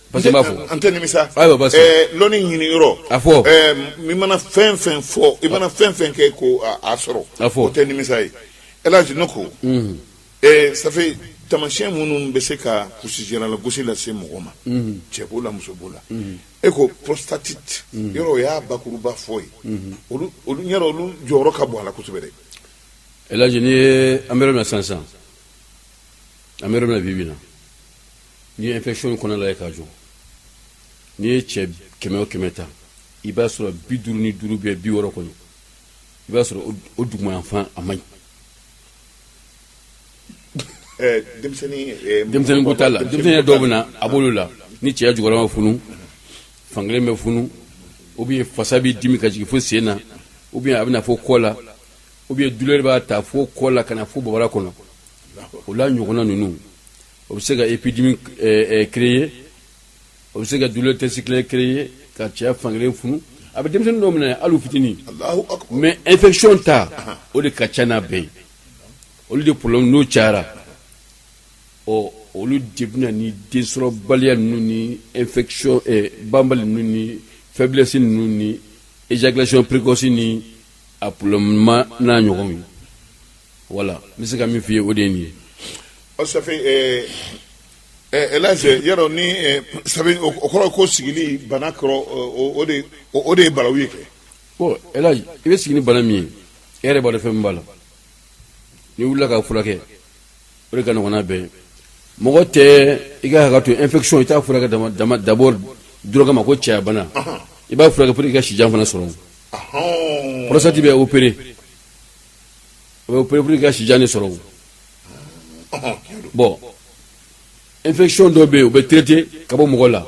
Parce que n b'a fɔ an tɛ nimisa Ayi, Baba Sise. Ɛɛ, lɔnni ɲini yɔrɔ A fɔ. Ɛɛ, i mana fɛn fɛn fɔ i mana fɛn fɛn kɛ ko a- a sɔrɔ A fɔ. o tɛ nimisa ye El Hadj ne ko ɛɛ, ça fait tamasiyɛn minnu bɛ se ka kulusijala gosi lase mɔgɔ ma cɛ b'o la muso b'o la e ko prostatite yɔrɔ o y'a bakuruba fɔ ye olu olu yɔrɔ olu jɔyɔrɔ ka bon a la kosɛbɛ dɛ El Hadj n'i ye an bɛ yɔrɔ min na sisan sisan an bɛ yɔrɔ min na bi bi in na n'i ye infection kɔnɔ lajɛ k'a jɔ n'i ye cɛ kɛmɛ o kɛmɛ ta i b'a sɔrɔ bi duuru ni duuru bɛ bi wɔɔrɔ kɔnɔ i b'a sɔrɔ o dugumayanfan a man ɲi eh, eh, denmisɛnnin ko t'a la denmisɛnnin dɔw bɛ na a b'olu la ni cɛya jukɔrɔ ma funu fankelen bɛ funu ou bien fasa bɛ dimi ka jigin fo sen na ou bien a bɛ na fo kɔ la ou bien douleur b'a ta fo kɔ la ka na fo bobara kɔnɔ o la ɲɔgɔnna ninnu o bɛ se ka épidémie créer o bɛ se ka douleur testicule créer ka cɛya fankelen funu a bɛ denmisɛnnin dɔ minɛ hali u fitinin mais infection ta o de ka ca n'a bɛɛ ye olu de problème n'o cayara ɔ olu de bɛ na ni densɔrɔbaliya ninnu ni infection banbali ninnu ni faiblesse ninnu ni éjaculation précoce ni a problème n'a ɲɔgɔn ye voilà n bɛ se ka min f'i ye o de ye nin ye ça fait El Hadj yɔrɔ ni o kɔrɔ ko sigili bana kɔrɔ o de ye balawu ye kɛ bon El Hadj i bɛ sigi ni bana min ye e yɛrɛ b'a dɔn fɛn min b'a la n'i wulila k'a furakɛ o de ka nɔgɔn n'a bɛɛ ye mɔgɔ tɛ i ka hakɛ to infection i t'a furakɛ dama d'abord dɔrɔn kama ko cɛyabana i b'a furakɛ pour que i ka sijan fana sɔrɔ prostate bɛ opérer o bɛ opérer pour que i ka sijan de sɔrɔ bon infection dɔ bɛ yen o bɛ traiter ka bɔ mɔgɔ la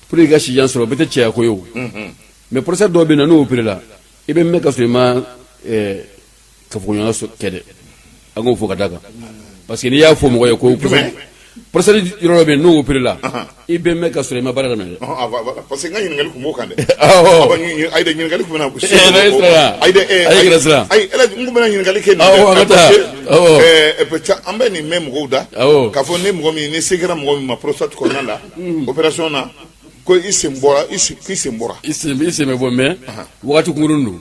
pour que i ka sijan sɔrɔ o bɛɛ tɛ cɛyako ye o mais prostate dɔ bɛ yen n'o opérer la i bɛ mɛɛn ka sɔrɔ i ma kafoɲɔgɔnya kɛ dɛ an k'o fɔ ka d'a kan parce que n'i y'a fɔ mɔgɔ ye ko prostate yɔrɔ dɔ bɛ yen n'o opere la i bɛ mɛn ka sɔrɔ i ma baara daminɛ dɛ parce que n ka ɲininkali tun b'o kan dɛ ayi dɛ ɲininkali tun bɛna ko ayi dɛ ayi yɛrɛ siran ayi n tun bɛna ɲininkali kɛ nin ka taa an bɛ nin mɛn mɔgɔw da k'a fɔ ni mɔgɔ min ni se kɛra mɔgɔ min ma prostate kɔnɔna la opération na ko i sen bɔra i sen bɛ bɔ mais wagati kunkurun don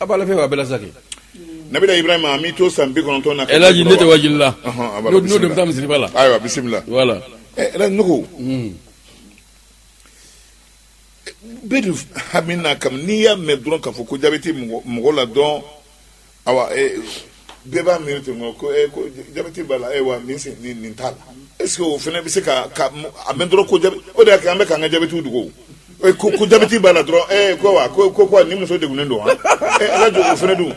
A b'a la fɛn b'a bɛɛ la sa kɛ nabila Ibrahima m'i to san bi kɔnɔntɔn na elaji ne tɛ wajuli la n'o tɛ n bɛ taa misiriba la ayiwa bisimila voilà elaji n'o kɔ bɛɛ dun hami na ka n'i y'a mɛn dɔrɔn k'a fɔ ko jabɛti mɔgɔ la dɔn bɛɛ b'a miiri ten ko jabɛti b'a la wa min sen ni nin t'a la est-ce que o fana bɛ se ka a mɛn dɔrɔn ko o de y'a kɛ an bɛ k'an ka jabɛti dogo ko jabɛti b'a la dɔrɔn e ko wa ko ko ni muso degunnen don wa elaji o fana dun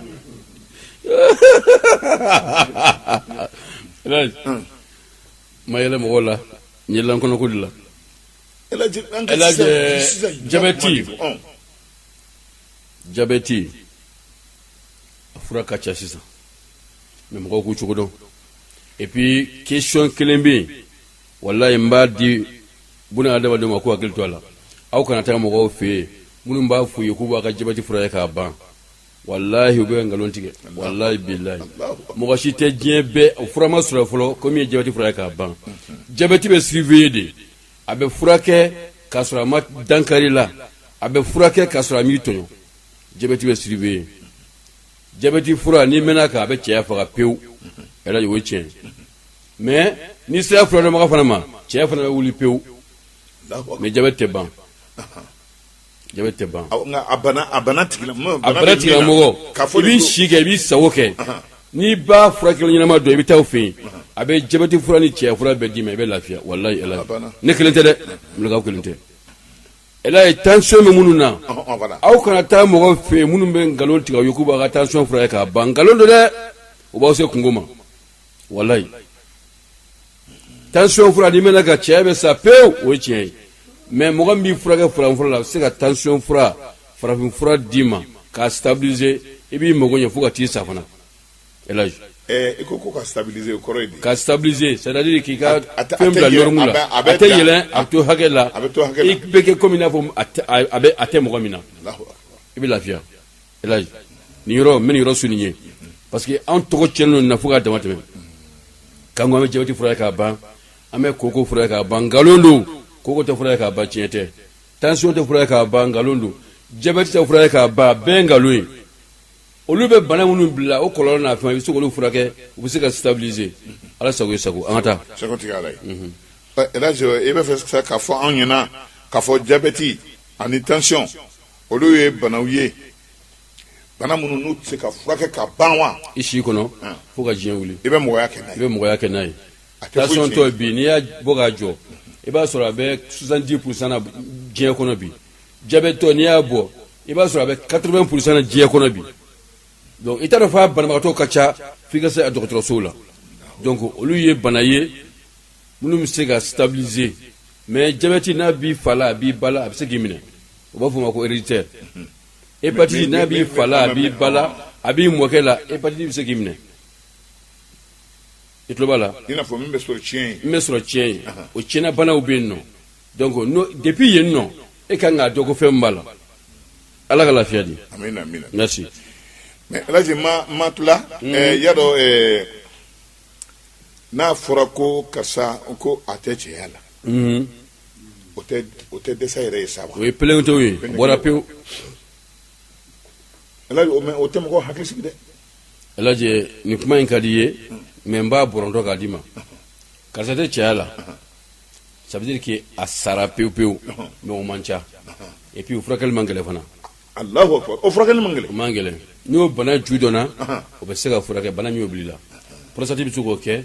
ma yɛlɛ mɔgɔw la n yɛlɛla an kɔnɔko de la jabɛti jabɛti a fura ka ca sisan mais mɔgɔw k'u cogo dɔn et puis question kelen bɛ yen walayi n b'a di buna adamadenw ma k'u hakili to a la aw kana taa mɔgɔw fɛ yen minnu b'a f'u ye k'u b'a ka jabɛti furakɛ k'a ban walahi u bɛ nkalon tigɛ walahi bilahi mɔgɔ si tɛ diɲɛ bɛɛ o fura ma sɔrɔ fɔlɔ ko min ye jabɛti fura ye k'a ban jabɛti bɛ surveiller de a bɛ furakɛ k'a sɔrɔ a ma dankari i la a bɛ furakɛ k'a sɔrɔ a m'i tɔɲɔ jabɛti bɛ surveiller jabɛti fura n'i mɛnna a kan a bɛ cɛya faga pewu yɛrɛ o ye tiɲɛ mais n'i sera furadɔnbaga fana ma cɛya fana bɛ wuli pewu mais jabɛti tɛ ban jabɛti tɛ ban a bana tigilamɔgɔ i b'i si kɛ i b'i sago kɛ n'i b'a furakɛla ɲɛnama dɔn i bɛ taa o fɛ yen a bɛ jabɛti fura ni cɛ fura bɛɛ d'i ma i bɛ lafiya walayi ne kelen tɛ dɛ kelen tɛ Elhadji tension bɛ minnu na, ɔhɔ ɔhɔ, voilà aw kana taa mɔgɔw fɛ yen minnu bɛ nkalon tigɛ aw ye k'u b'a ka tension furakɛ k'a ban nkalon don dɛ, o b'aw se kunko ma walahi, tension fura n'i mɛnna a kan cɛya bɛ sa pewu o ye tiɲɛ ye mais mɔgɔ min b'i furakɛ farafinfura la a bɛ se ka tension fura farafinfura d'i ma k'a stabiliser i b'i mago ɲɛ fo ka t'i sa fana i ko ka stabiliser o kɔrɔ ye di ka stabiliser c'est-à-dire k'i ka fɛn bila norme la a tɛ yɛlɛn a bɛ to hakɛ la a bɛ to hakɛ i bɛ kɛ kɔmi i n'a fɔ a bɛ a tɛ mɔgɔ min na i bɛ lafiya nin yɔrɔ n bɛ nin yɔrɔ souligner parce que an tɔgɔ tiɲɛnen don nin na fo k'a dama tɛmɛ k'an ko an bɛ jabɛti fura k'a ban an bɛ koko fura k'a ban nkalon don koko tɛ fura k'a ban tiɲɛ tɛ tansiyɔn tɛ fura k'a ban nkalon don jabɛti tɛ fura k'a ban bɛɛ nkalon ye olu bɛ bana minnu bila o kɔlɔlɔ n'a fɛn i bɛ se k'olu furakɛ u bɛ se ka stabiliser ala sago i sago an ka taa i b'a fɛ k'a fɔ anw ɲɛna k'a fɔ jabɛti ani tansiyɔn olu ye banaw ye bana minnu n'u tɛ se ka furakɛ ka ban wa i si kɔnɔ fo ka diɲɛ wuli i bɛ mɔgɔya kɛ i bɛ mɔgɔya kɛ n'a ye tansiyɔntɔ bi n'i y'a bɔ k'a jɔ i b'a sɔrɔ a bɛ 70 pourcent na diɲɛ kɔnɔ bi jabɛtɔ n'i y'a bɔ i b'a sɔrɔ a bɛ 80 pourcent na diɲɛ kɔnɔ bi donc i t'a dɔn f'a banabagatɔ ka ca f'i ka se a dɔgɔtɔrɔsow la donc olu ye bana ye minnu bɛ se ka stabiliser mais jabɛti n'a b'i fa la a b'i ba la a bɛ se k'i minɛ u b'a fɔ o ma ko héréditaire hépatite n'a b'i fa la a b'i ba la a b'i mɔkɛ la hépatite bɛ se k'i minɛ i tulo b'a la i n'a fɔ min bɛ sɔrɔ tiɲɛ ye min bɛ sɔrɔ tiɲɛ ye o tiɲɛna banaw bɛ yen nɔ donc depuis yen nɔ e ka kan k'a dɔn ko fɛn min b'a la ala ka lafiya di amina amina merci mais alaji ma ma tula mm. eh, y'a dɔn eh, n'a fɔra ko karisa ko a tɛ cɛya la mm. o tɛ o tɛ dɛsɛ yɛrɛ ye sa wa o ye pelenketew ye bɔra pewu alaji o mais o tɛ mɔgɔ hakili sigi dɛ alaji nin kuma in ka di ye mm. mais n b'a bɔrɔntɔ k'a d'i ma karisa tɛ cɛya la ça veut dire que a sara pewu pewu mais o man ca et puis o furakɛli man gɛlɛn fana o furakɛli man gɛlɛn o man gɛlɛn n'o bana ju dɔnna o bɛ se ka furakɛ bana min y'o bil'i la prostate bɛ se k'o kɛ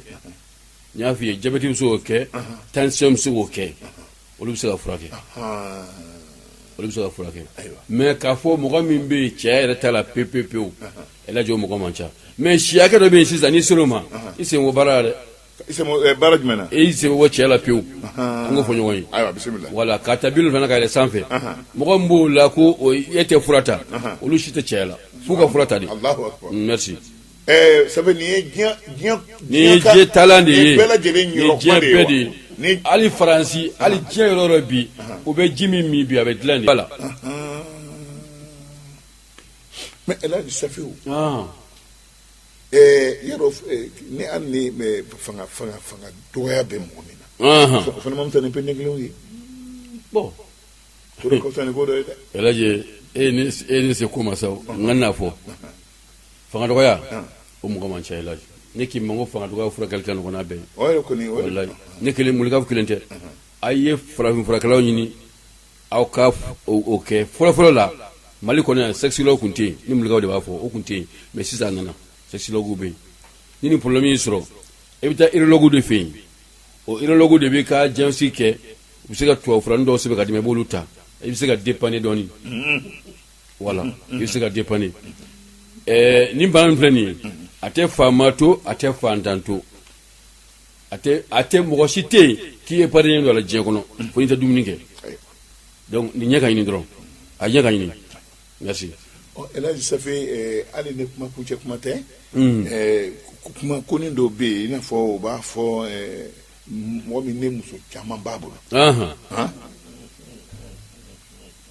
n y'a fɔ i ye jabɛti bɛ se k'o kɛ tansiyɔn bɛ se k'o kɛ olu bɛ se ka furakɛ olu bɛ se ka furakɛ mais k'a fɔ mɔgɔ min bɛ yen cɛya yɛrɛ t'a la pewu pewu pewu alaji o mɔgɔ man ca mais si hakɛ dɔ bɛ yen sisan n'i sera o ma i sen bɔ baara la dɛ baara jumɛn na i sen bɔ cɛya la pewu an k'o fɔ ɲɔgɔn ye bisimila voilà ka ta bi wolonfila la ka yɛlɛ sanfɛ mɔgɔ min b'o la ko e tɛ fura ta olu si tɛ cɛya la f'u ka fura ta de sabu nin ye diɲɛ taalan de ye diɲɛ bɛɛ de ye ni hali faransi hali diɲɛ yɔrɔ o yɔrɔ bi o bɛ ji min min bi a bɛ dilan de voilà mais alaji safiwu Ɛɛ yɔrɔ ni hali ni fanga fanga fanga dɔgɔya bɛ mɔgɔ min na o fana ma fisa ni pe ne kelen ye bon o ka fisa ni ko dɔ ye dɛ alaji e ni se ko ma sa n kan'a fɔ fanga dɔgɔya o mɔgɔ man ca alaji ne k'i ma ko fanga dɔgɔya furakɛli ka nɔgɔn n'a bɛɛ ye kɔni ne kelen mulikafu kelen tɛ a ye farafinfurakɛlaw ɲini aw ka o kɛ fɔlɔfɔlɔ la mali kɔnɔ yan sexologue tun tɛ yen ni mulikaw de b'a fɔ o tun tɛ yen mais sisan a nana sexologue bɛ yen ni nin problème y'i sɔrɔ e bɛ taa urologue de fɛ yen o urologue de bɛ ka diagnostic kɛ u bɛ se ka tubabu furanin dɔw sɛbɛn ka d'i ma i b'olu ta i bɛ se ka dépanner dɔɔnin voilà i bɛ se ka dépanner ɛɛ nin bana min filɛ nin ye a tɛ faama to a tɛ faantan to a tɛ a tɛ mɔgɔ si tɛ yen k'i ye parilen don a la diɲɛ kɔnɔ fo n'i tɛ dumuni kɛ donc nin ɲɛ ka ɲini dɔrɔn a ɲɛ ka ɲini merci ɔ elhaji safi eh, hali ni kuma kuncɛ kuma tɛ hmm. eh, kuma kɔni dɔ bɛ yen i n'a fɔ u b'a fɔ eh, mɔgɔ min ne muso caman b'a bolo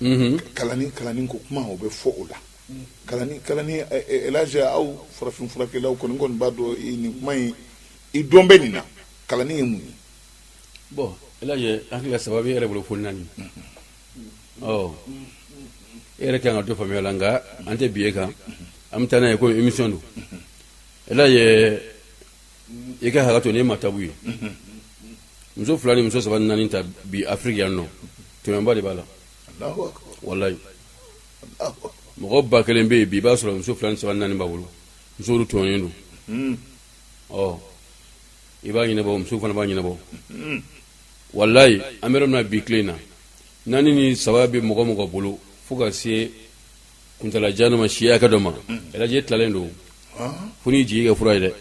mhm. kalani kalani ko kuma o bɛ fɔ o la kalani kalani elhaji aw farafinfurakɛlaw kɔni kɔni b'a dɔn nin kuma in i dɔn bɛ nin na kalani ye mun ye bon elhaji hakili la saba b'i yɛrɛ bolo fo naani ɔ e yɛrɛ kan ka dɔ faamuya la nka an tɛ bin e kan an bɛ taa n'a ye ko émission don elhaji i ka hakɛ to ne ma tabu ye muso fila ni muso saba ni naani ta bi afiriki yan nɔ tɛmɛnba de b'a la walayi mɔgɔ ba kelen bɛ yen bi i b'a sɔrɔ muso fila ni saba ni naani b'a bolo muso olu tɔɲɔlen don ɔ i b'a ɲɛnabɔ muso fana b'a ɲɛnabɔ walayi an bɛ yɔrɔ min na bi tile in na naani ni saba bɛ mɔgɔ mɔgɔ bolo fo ka se kuntala jan dɔ ma si hakɛ dɔ ma elhaji e tilalen don fo n'i jigi kɛ fura ye dɛ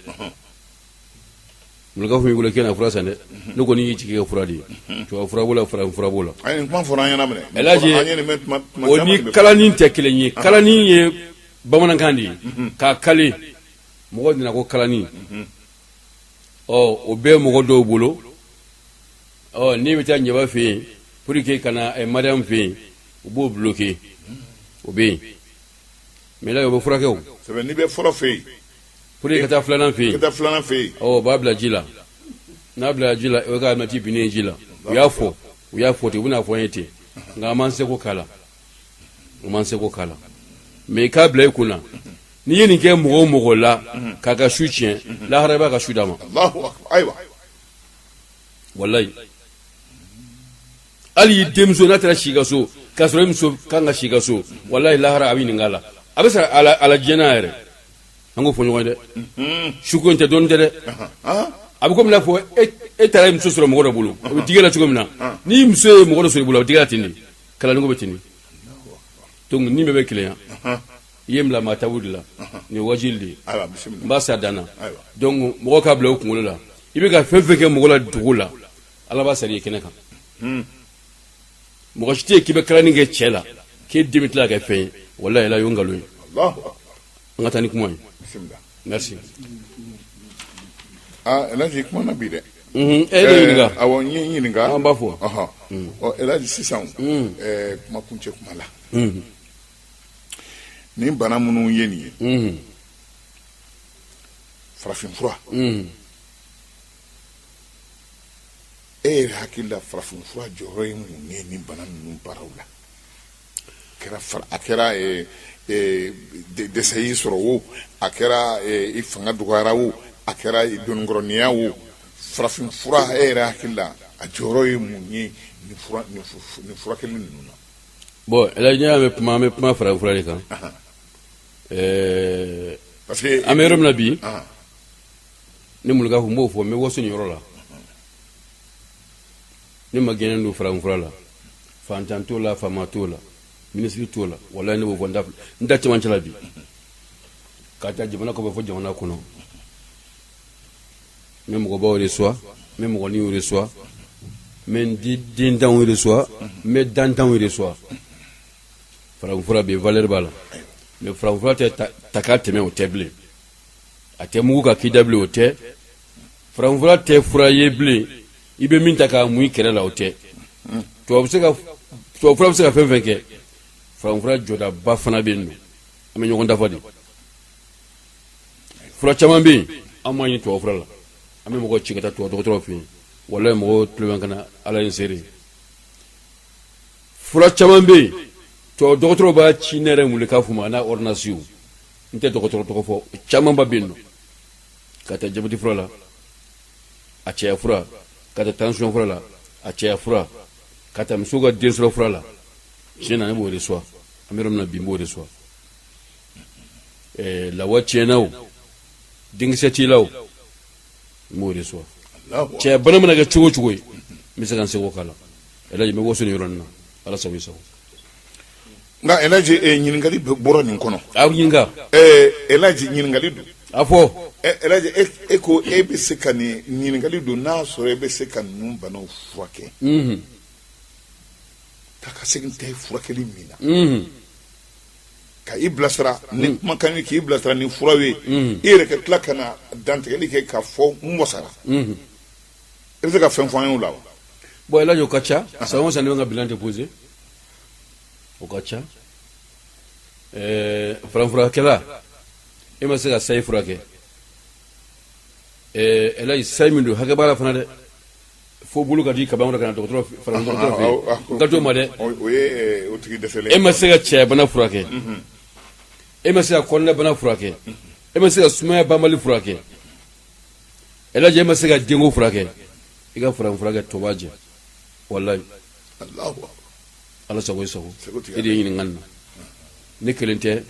mulikaw f'i wuli ka na fura san dɛ ne kɔni y'i jigi kɛ fura de ye tubabu fura b'o la farafin fura b'o la ayi nin kuma fɔra an ɲɛna minɛ elhaji An ye nin mɛn tuma- tuma o caman ni de bɛ- kalani tɛ kelen ye kalani ye bamanankan de ye k'a kale mɔgɔ nana ko kalani ɔ o bɛ mɔgɔ dɔw bolo ɔ n'i bɛ taa ɲɛba fɛ yen pour que ka na eh, mariam fɛ yen u b'o bloquer o bɛ yen mais là o bɛ furakɛ o c'est vrai n'i bɛ fɔlɔ fɛ yen pour que ka taa filanan fɛ i kana taa filanan fɛ yen ɔ o b'a bila ji la n'a bila ji la o ye ka alimɛti binnen ye ji la u y'a fɔ u y'a fɔ ten u bɛna fɔ an ye ten nka an m'an seko k'a la an m'an seko k'a la mais i k'a bila i kun na n'i ye nin kɛ mɔgɔ o mɔgɔ la k'a ka su tiɲɛ lahara i b'a ka su d'a ma walayi hali i denmuso n'a taara si ka so k'a sɔrɔ i muso kan ka si ka so walayi lahara a bɛ ɲininka a la a bɛ sara a la diɲɛ na yɛrɛ an k'o fɔ ɲɔgɔn ye dɛ mhm. suko in tɛ dɔɔnin tɛ dɛ a bɛ komi n'a fɔ e, e taara i muso sɔrɔ mɔgɔ dɔ bolo o bɛ digi i la cogo min na n'i muso ye mɔgɔ dɔ sɔrɔ i bolo a bɛ digi la ten de kalanniko bɛ ten donc ni bɛɛ bɛ keleya i ye bila maa tabu de la nin wajili de ye n b'a sa danna donc mɔgɔw k'a bila u kunkolo la i bɛ ka fɛn fɛn kɛ mɔgɔ la dogo la ala b'a sara i kɛnɛ kan hmm. mɔgɔ si tɛ yen k'i bɛ kalanni kɛ cɛ la k'e den bɛ tila ka kɛ fɛn ye walayi ala y'o nkalon ye an ka taa ni kuma ye merci ah elhaji i kumana bi dɛ mhm, e de ɲininka eh, awɔ n'i ye n ɲininka an b'a fɔ mhm. ɔ elhaji sisan mhm. eh, kuma kuncɛ kuma la nin bana minnu ye nin ye farafinfura e yɛrɛ hakili la farafinfura jɔyɔrɔ ye mun ye nin bana ninnu baaraw la kɛra a kɛra dɛsɛ y'i sɔrɔ wo a kɛra i fanga dɔgɔyara wo a kɛra dononkɔrɔninya wo farafinfura e yɛrɛ hakili la a jɔyɔrɔ ye mun ye nin furakɛli ninnu na bon elhaji an bɛ kuma an bɛ kuma farafinfura de kan ɛɛ parce que an bɛ yɔrɔ min na bi ne mulekafu b'o fɔ n bɛ waso nin yɔrɔ la ne ma gɛnɛ don farafinfura la fantan t'o la faama t'o la minisiri t'o la walayi ne b'o fɔ n da cɛmancɛ la bi ka ta jamana kɔfɛ fɔ jamana kɔnɔ n bɛ mɔgɔbaw reçoit n bɛ mɔgɔninw reçoit n bɛ n di dentanw reçoit n bɛ dantanw reçoit farafinfura bɛ yen valeur b'a la mais farafinfura tɛ ta k'a tɛmɛ o tɛ bilen a tɛ mugu k'a k'i da bilen o tɛ farafinfura tɛ fura ye bilen i bɛ min ta k'a mun i kɛrɛ la o tɛ tubabu bɛ se ka tubabu fura bɛ se ka fɛn fɛn kɛ farafinfura jɔdaba fana bɛ yen nɔ an bɛ ɲɔgɔn dafa de fura caman bɛ yen an m'a ɲini tubabu fura la an bɛ mɔgɔ ci ka taa tubabu dɔgɔtɔrɔw fɛ yen walayi mɔgɔw tulo bɛ n kan na ala ye n seere fura caman bɛ yen tubabu dɔgɔtɔrɔw b'a ci ne yɛrɛ mulekafu ma a n'a ɔridɔnansiw n tɛ dɔgɔtɔrɔ tɔgɔ fɔ camanba bɛ yen nɔ ka taa jabɛti fura la a cɛya fura ka taa tansiyɔn fura la a cɛya fura ka taa muso ka den sɔrɔ fura la tiɲɛ na ne b'o reçoit an bɛ yɔrɔ min na bi n b'o reçoit ɛɛ lawa tiɲɛna o denkisɛ t'i la o n b'o reçoit cɛya bana mana kɛ cogo o cogo ye n bɛ se ka n seko k'a la elhaji n bɛ waso nin yɔrɔ nin na ala sago i sago Nka Elhaji e ɲininkali bɔra nin kɔnɔ, a ɲininka, ɛ Elhaji ɲininkali don, a fɔ, ɛ Elhaji e ko e bɛ se ka nin ɲininkali don n'a y'a sɔrɔ e bɛ se ka ninnu banaw furakɛ, unhun, taa ka segin tɛ furakɛli min na, unhun, ka i bilasira ni kumakan ye k'i bilasira ni furaw ye, unhun, i yɛrɛ ka tila ka na dantigɛli kɛ k'a fɔ n wasara, unhun, i bɛ se ka fɛn fɔ an ye o la wa? Bon Elhaji o ka ca san o san ne bɛ n ka bilan déposer o ka ca ɛɛ farafinfurakɛla e ma se ka sayi furakɛ ɛɛ ɛlaji sayi min don hakɛ b'a la fana dɛ fo bolo ka di kaban wɛrɛ ka na dɔgɔtɔrɔ farafin dɔgɔtɔrɔ fɛ yen n ka t'o ma dɛ o o ye eh, o tigi dɛsɛlen e ma se ka cɛyabana furakɛ e ma se ka kɔnɔnabana furakɛ e ma se ka sumaya banbali furakɛ ɛlaji e ma se ka denko furakɛ i ka farafinfurakɛ tɔ b'a jɛ walayi ala sago i sago e de ye ɲininkali na ne kelen tɛ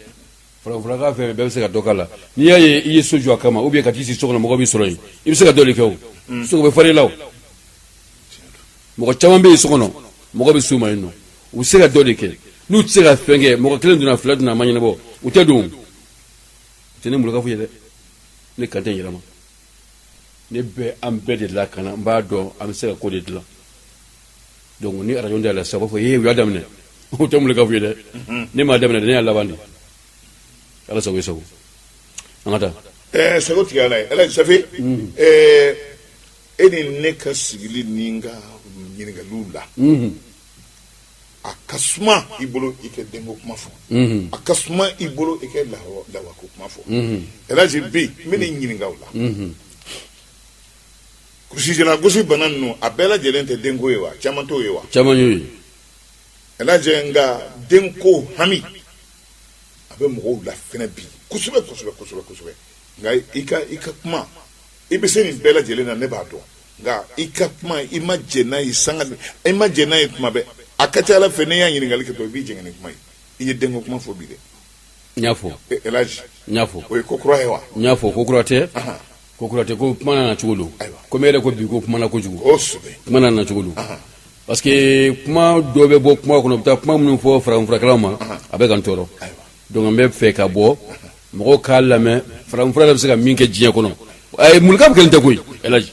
farafinfurakɛla fɛn bɛɛ bɛ se ka dɔ k'a la n'i y'a ye i ye so jɔ a kama ou bien ka t'i sigi so kɔnɔ mɔgɔ b'i sɔrɔ yen i bɛ se ka dɔ de kɛ o mm. sogo bɛ fari la o mɔgɔ caman bɛ yen so kɔnɔ mɔgɔ bɛ s'u ma yen nɔ u bɛ se ka dɔ de kɛ n'u tɛ se ka fɛn kɛ mɔgɔ kelen donna fila donna a ma ɲɛnabɔ u tɛ don o tɛ ne mulika foyi ye dɛ ne kan tɛ n yɛrɛ ma ne bɛ an bɛɛ de lakana n b'a dɔn an bɛ se ka ko de dilan donc ni arajo da la sa b'a fɔ ee u y'a daminɛ o tɛ mulika foyi ye dɛ mhm. ne m'a daminɛ ne y'a laban de ala sago i sago an ka taa ɛɛ eh, sago tigi ala ye ala safe ɛɛ mhm. eh, e ni ne ka sigili ni n ka ɲininkaliw la mhm. a ka suma i bolo i kɛ denko kuma fɔ a ka suma i bolo i kɛ lawako kuma fɔ elaji bi n bɛ nin ɲininka o la kulusijala gosi bana ninnu a bɛɛ lajɛlen tɛ denko ye wa caman t'o ye wa caman y'o ye elaji nka denko hami a bɛ mɔgɔw la fɛnɛ bi kosɛbɛ kosɛbɛ kosɛbɛ kosɛbɛ nka i ka i ka kuma i bɛ se nin bɛɛ lajɛlen na ne b'a dɔn nka i ka kuma i ma jɛ n'a ye sanga i ma jɛ n'a ye kuma bɛɛ a ka ca ala fɛ ne y'a ɲininkali kɛ to i b'i jɛngɛ ni kuma ye i ye denko kuma fɔ bi dɛ n y'a fɔ e, elaji n y'a fɔ o ye ko kura ye wa n y'a fɔ ko kura tɛ ko kura tɛ ko kuma nana cogo don komi e yɛrɛ ko bi ko kuma na kojugu kosɛbɛ kuma nana cogo don parce que kuma dɔ bɛ bɔ kuma kɔnɔ u bɛ taa kuma minnu fɔ farafinfurakɛlaw ma a bɛ ka n tɔɔrɔ donc an bɛ fɛ ka bɔ mɔgɔw k'a lamɛn farafinfura yɛrɛ bɛ se ka min kɛ diɲɛ kɔnɔ ayi mulikaw kelen tɛ koyi elaji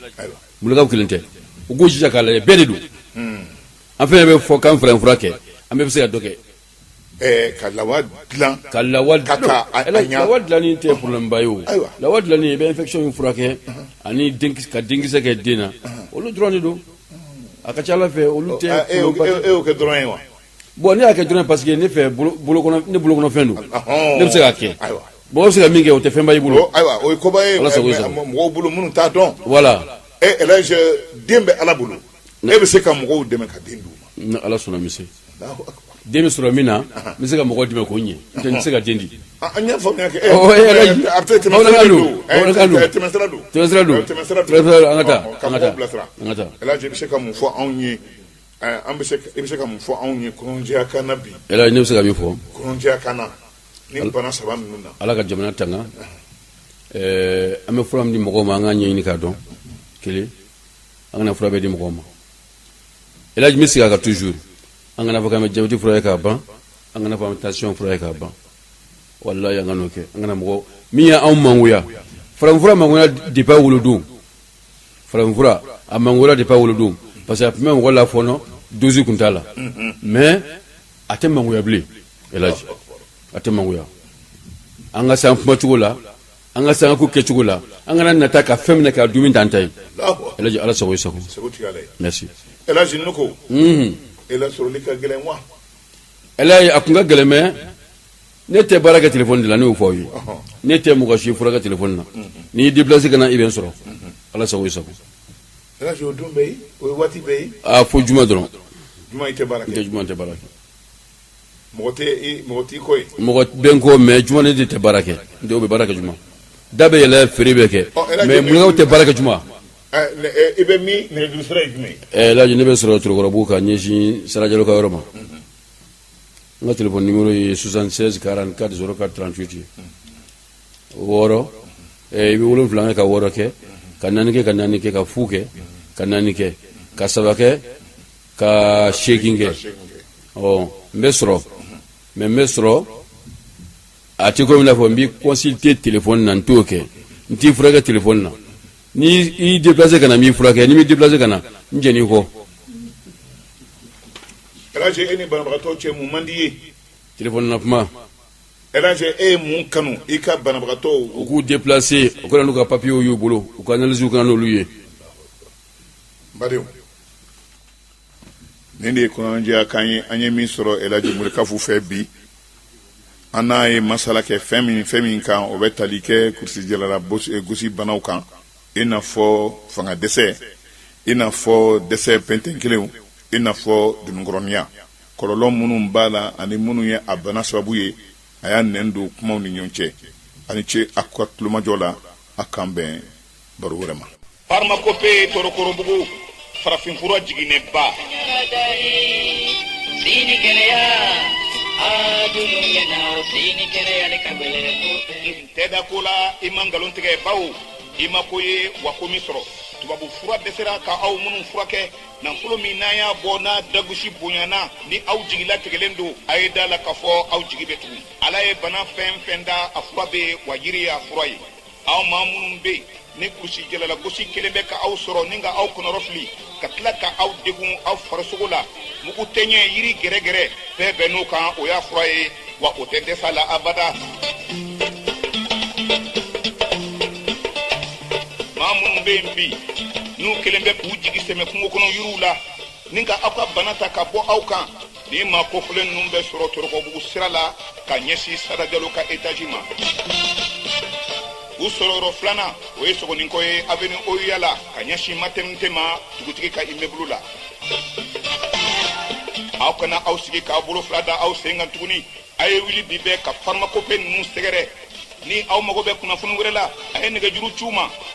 mulikaw kelen tɛ u k'u jija k'a lajɛ bɛɛ de don hmm. an fɛn bɛ fɔ k'an farafinfura kɛ an bɛɛ bɛ se ka dɔ kɛ eh, ka lawa dilan ka lawa dilan lawa dilanni tɛ problème ba ye o lawa dilanni i bɛ infection in furakɛ uh-huh. ani ka denkisɛ kɛ den na uh-huh. olu dɔrɔn de don a ka ca ala fɛ olu tɛ e y'o kɛ dɔrɔn ye wa Bon ne y'a kɛ dɔrɔn parce que ne fɛ ne bolokɔnɔfɛn don ne bɛ se k'a kɛ bon i bɛ se ka min kɛ o tɛ fɛnba ye i bolo ayiwa o koba ye mɔgɔw bolo minnu t'a dɔn voilà den bɛ ala bolo ne bɛ se ka mɔgɔw dɛmɛ ka den ni ala sɔnna bɛ se den sɔrɔ min na n bɛ se ka mɔgɔ dɛmɛ kɔni n tɛ se ka den di an y'a faamuya kɛ tɛmɛsira don an ka taa elaji bɛ se ka mun fɔ anw ye An bɛ i bɛ se ka mun fɔ anw ye kɔnɔjɛya kan bi elaji ne bɛ se ka min fɔ kɔnɔjɛya kan ni bana saba ninnu na ala ka jamana tanga an bɛ fura min di mɔgɔ ma an k'a ɲɛɲini k'a dɔn kelen an kana fura bɛɛ di mɔgɔ ma e bɛ sigi a kan toujours an kana fɔ k'an bɛ jabɛti furakɛ ka ban an kana fɔ an bɛ tansiyɔn furakɛ ka ban walayi an kan'o kɛ an kana mɔgɔ min ye anw mangoya farafinfura mangoya depuis a wolodon farafinfura a mangoyara depuis a wolodon parce que a tun bɛ mɔgɔ lafɔɔnɔ dosi tun t'a la mais a tɛ mangoya bilen elaji a tɛ mangoya an ka se an kumacogo la an ka se an ka ko kɛcogo la an kana nata ka fɛn minɛ k'a dun min t'an ta ye elaji ala sago i sago merci elaji ne ko e lasɔrɔli ka gɛlɛn wa elaji a tun ka gɛlɛn mais ne tɛ baara kɛ tilefɔni de la ne y'o fɔ aw ye ne tɛ mɔgɔ si furakɛ tilefɔni na n'i y'i déplacé ka na i bɛ n sɔrɔ ala sago i sago o ye don bɛɛ ye o ye waati bɛɛ ye aa fo juma dɔrɔn juma i tɛ baara kɛ juma n tɛ baara kɛ mɔgɔ tɛ mɔgɔ t'i kɔ ye mɔgɔ bɛ n kɔ mais juma ne de tɛ baara kɛ n tɛ u bɛ baara kɛ juma da bɛ yɛlɛ feere bɛ kɛ mais mulekafu tɛ baara kɛ juma i bɛ min nɛgɛjuru sira ye jumɛn ye elaji ne bɛ sɔrɔ torokɔrɔbugu ka ɲɛsin sara jalo ka yɔrɔ ma n ka telefɔni nimero ye 76 44 04 38 ye wɔɔrɔ eh, i bɛ wolonfila kɛ ka wɔɔrɔ kɛ ka naani kɛ ka naani kɛ ka fu kɛ ka naani kɛ ka saba kɛ ka seegin kɛ ɔ n bɛ sɔrɔ mais n bɛ sɔrɔ a tɛ komi i n'a fɔ n b'i consulter telefɔni na n t'o kɛ n t'i furakɛ telefɔni na ni i déplacer ka na n b'i furakɛ n'i m'i déplacer ka na n jɛn'i kɔ. Elaji e ni banabagatɔ cɛ mun man di i ye? Téléphone na kuma. Elaji e ye mun kanu i ka banabagatɔw. U k'u déplacer u ka na n'u ka papiers y'u bolo u ka analyses ka na n'olu ye. N badenw, nin de ye kɔnɔnajɛya kan ye an ye min sɔrɔ Elaji Mulekafu fɛ bi. An n'a ye masala kɛ fɛn min fɛn min kan o bɛ tali kɛ kurusijalala gosi banaw kan. i n'a fɔ fanga dɛsɛ i n'a fɔ dɛsɛ pɛntɛn kelenw i n'a fɔ dununkɔrɔniya kɔlɔlɔ minnu b'a la ani minnu ye a bana sababu ye a y'a nɛn don kumaw ni ɲɔgɔn cɛ a ni ce a ka tulomajɔ la an k'an bɛn baro wɛrɛ ma farmakope torokɔrɔbugu farafin fura jiginɛba sini kɛnɛya adunu ɲɛna sini kɛnɛya n'e k'e bilen tɛ da ko la i ma nkalon tigɛ bawo i ma ko ye wa ko min sɔrɔ tubabu fura dɛsɛra ka aw minnu furakɛ nafolo min n'aw y'a bɔ n'a dagosi bonyana ni aw jigi latigɛlen don a ye da a la k'a fɔ aw jigi bɛ tugu ala ye bana fɛn fɛn da a fura bɛ wa yiri y'a fura ye aw maa minnu bɛ yen ni kurusijala lagosi kelen bɛ ka aw sɔrɔ ni ka aw kɔnɔrɔfili ka tila ka aw degun aw farisogo la mugu tɛɲɛ yiri gɛrɛgɛrɛ bɛɛ bɛnna o kan o y'a fura ye wa o tɛ dɛsɛ a la abada maa minnu bɛ yen bi n'u kelen bɛ k'u jigi sɛmɛ kungo kɔnɔ yiriw la ni ka aw ka bana ta ka bɔ aw kan Nin maa kofɔlen ninnu bɛ sɔrɔ Torokɔbugu sira la ka ɲɛsin Sada Jalo ka etazi ma. U sɔrɔyɔrɔ filanan, o ye Sogoninkɔ ye avenue OUA la ka ɲɛsin maternité ma dugutigi ka immeuble la. Aw kana aw sigi k'aw bolo fila da aw sen kan tuguni, a ye wuli bi bɛɛ ka pharmacopée ninnu sɛgɛrɛ. Ni aw mago bɛ kunnafoni wɛrɛ la, a ye nɛgɛjuru ci u ma.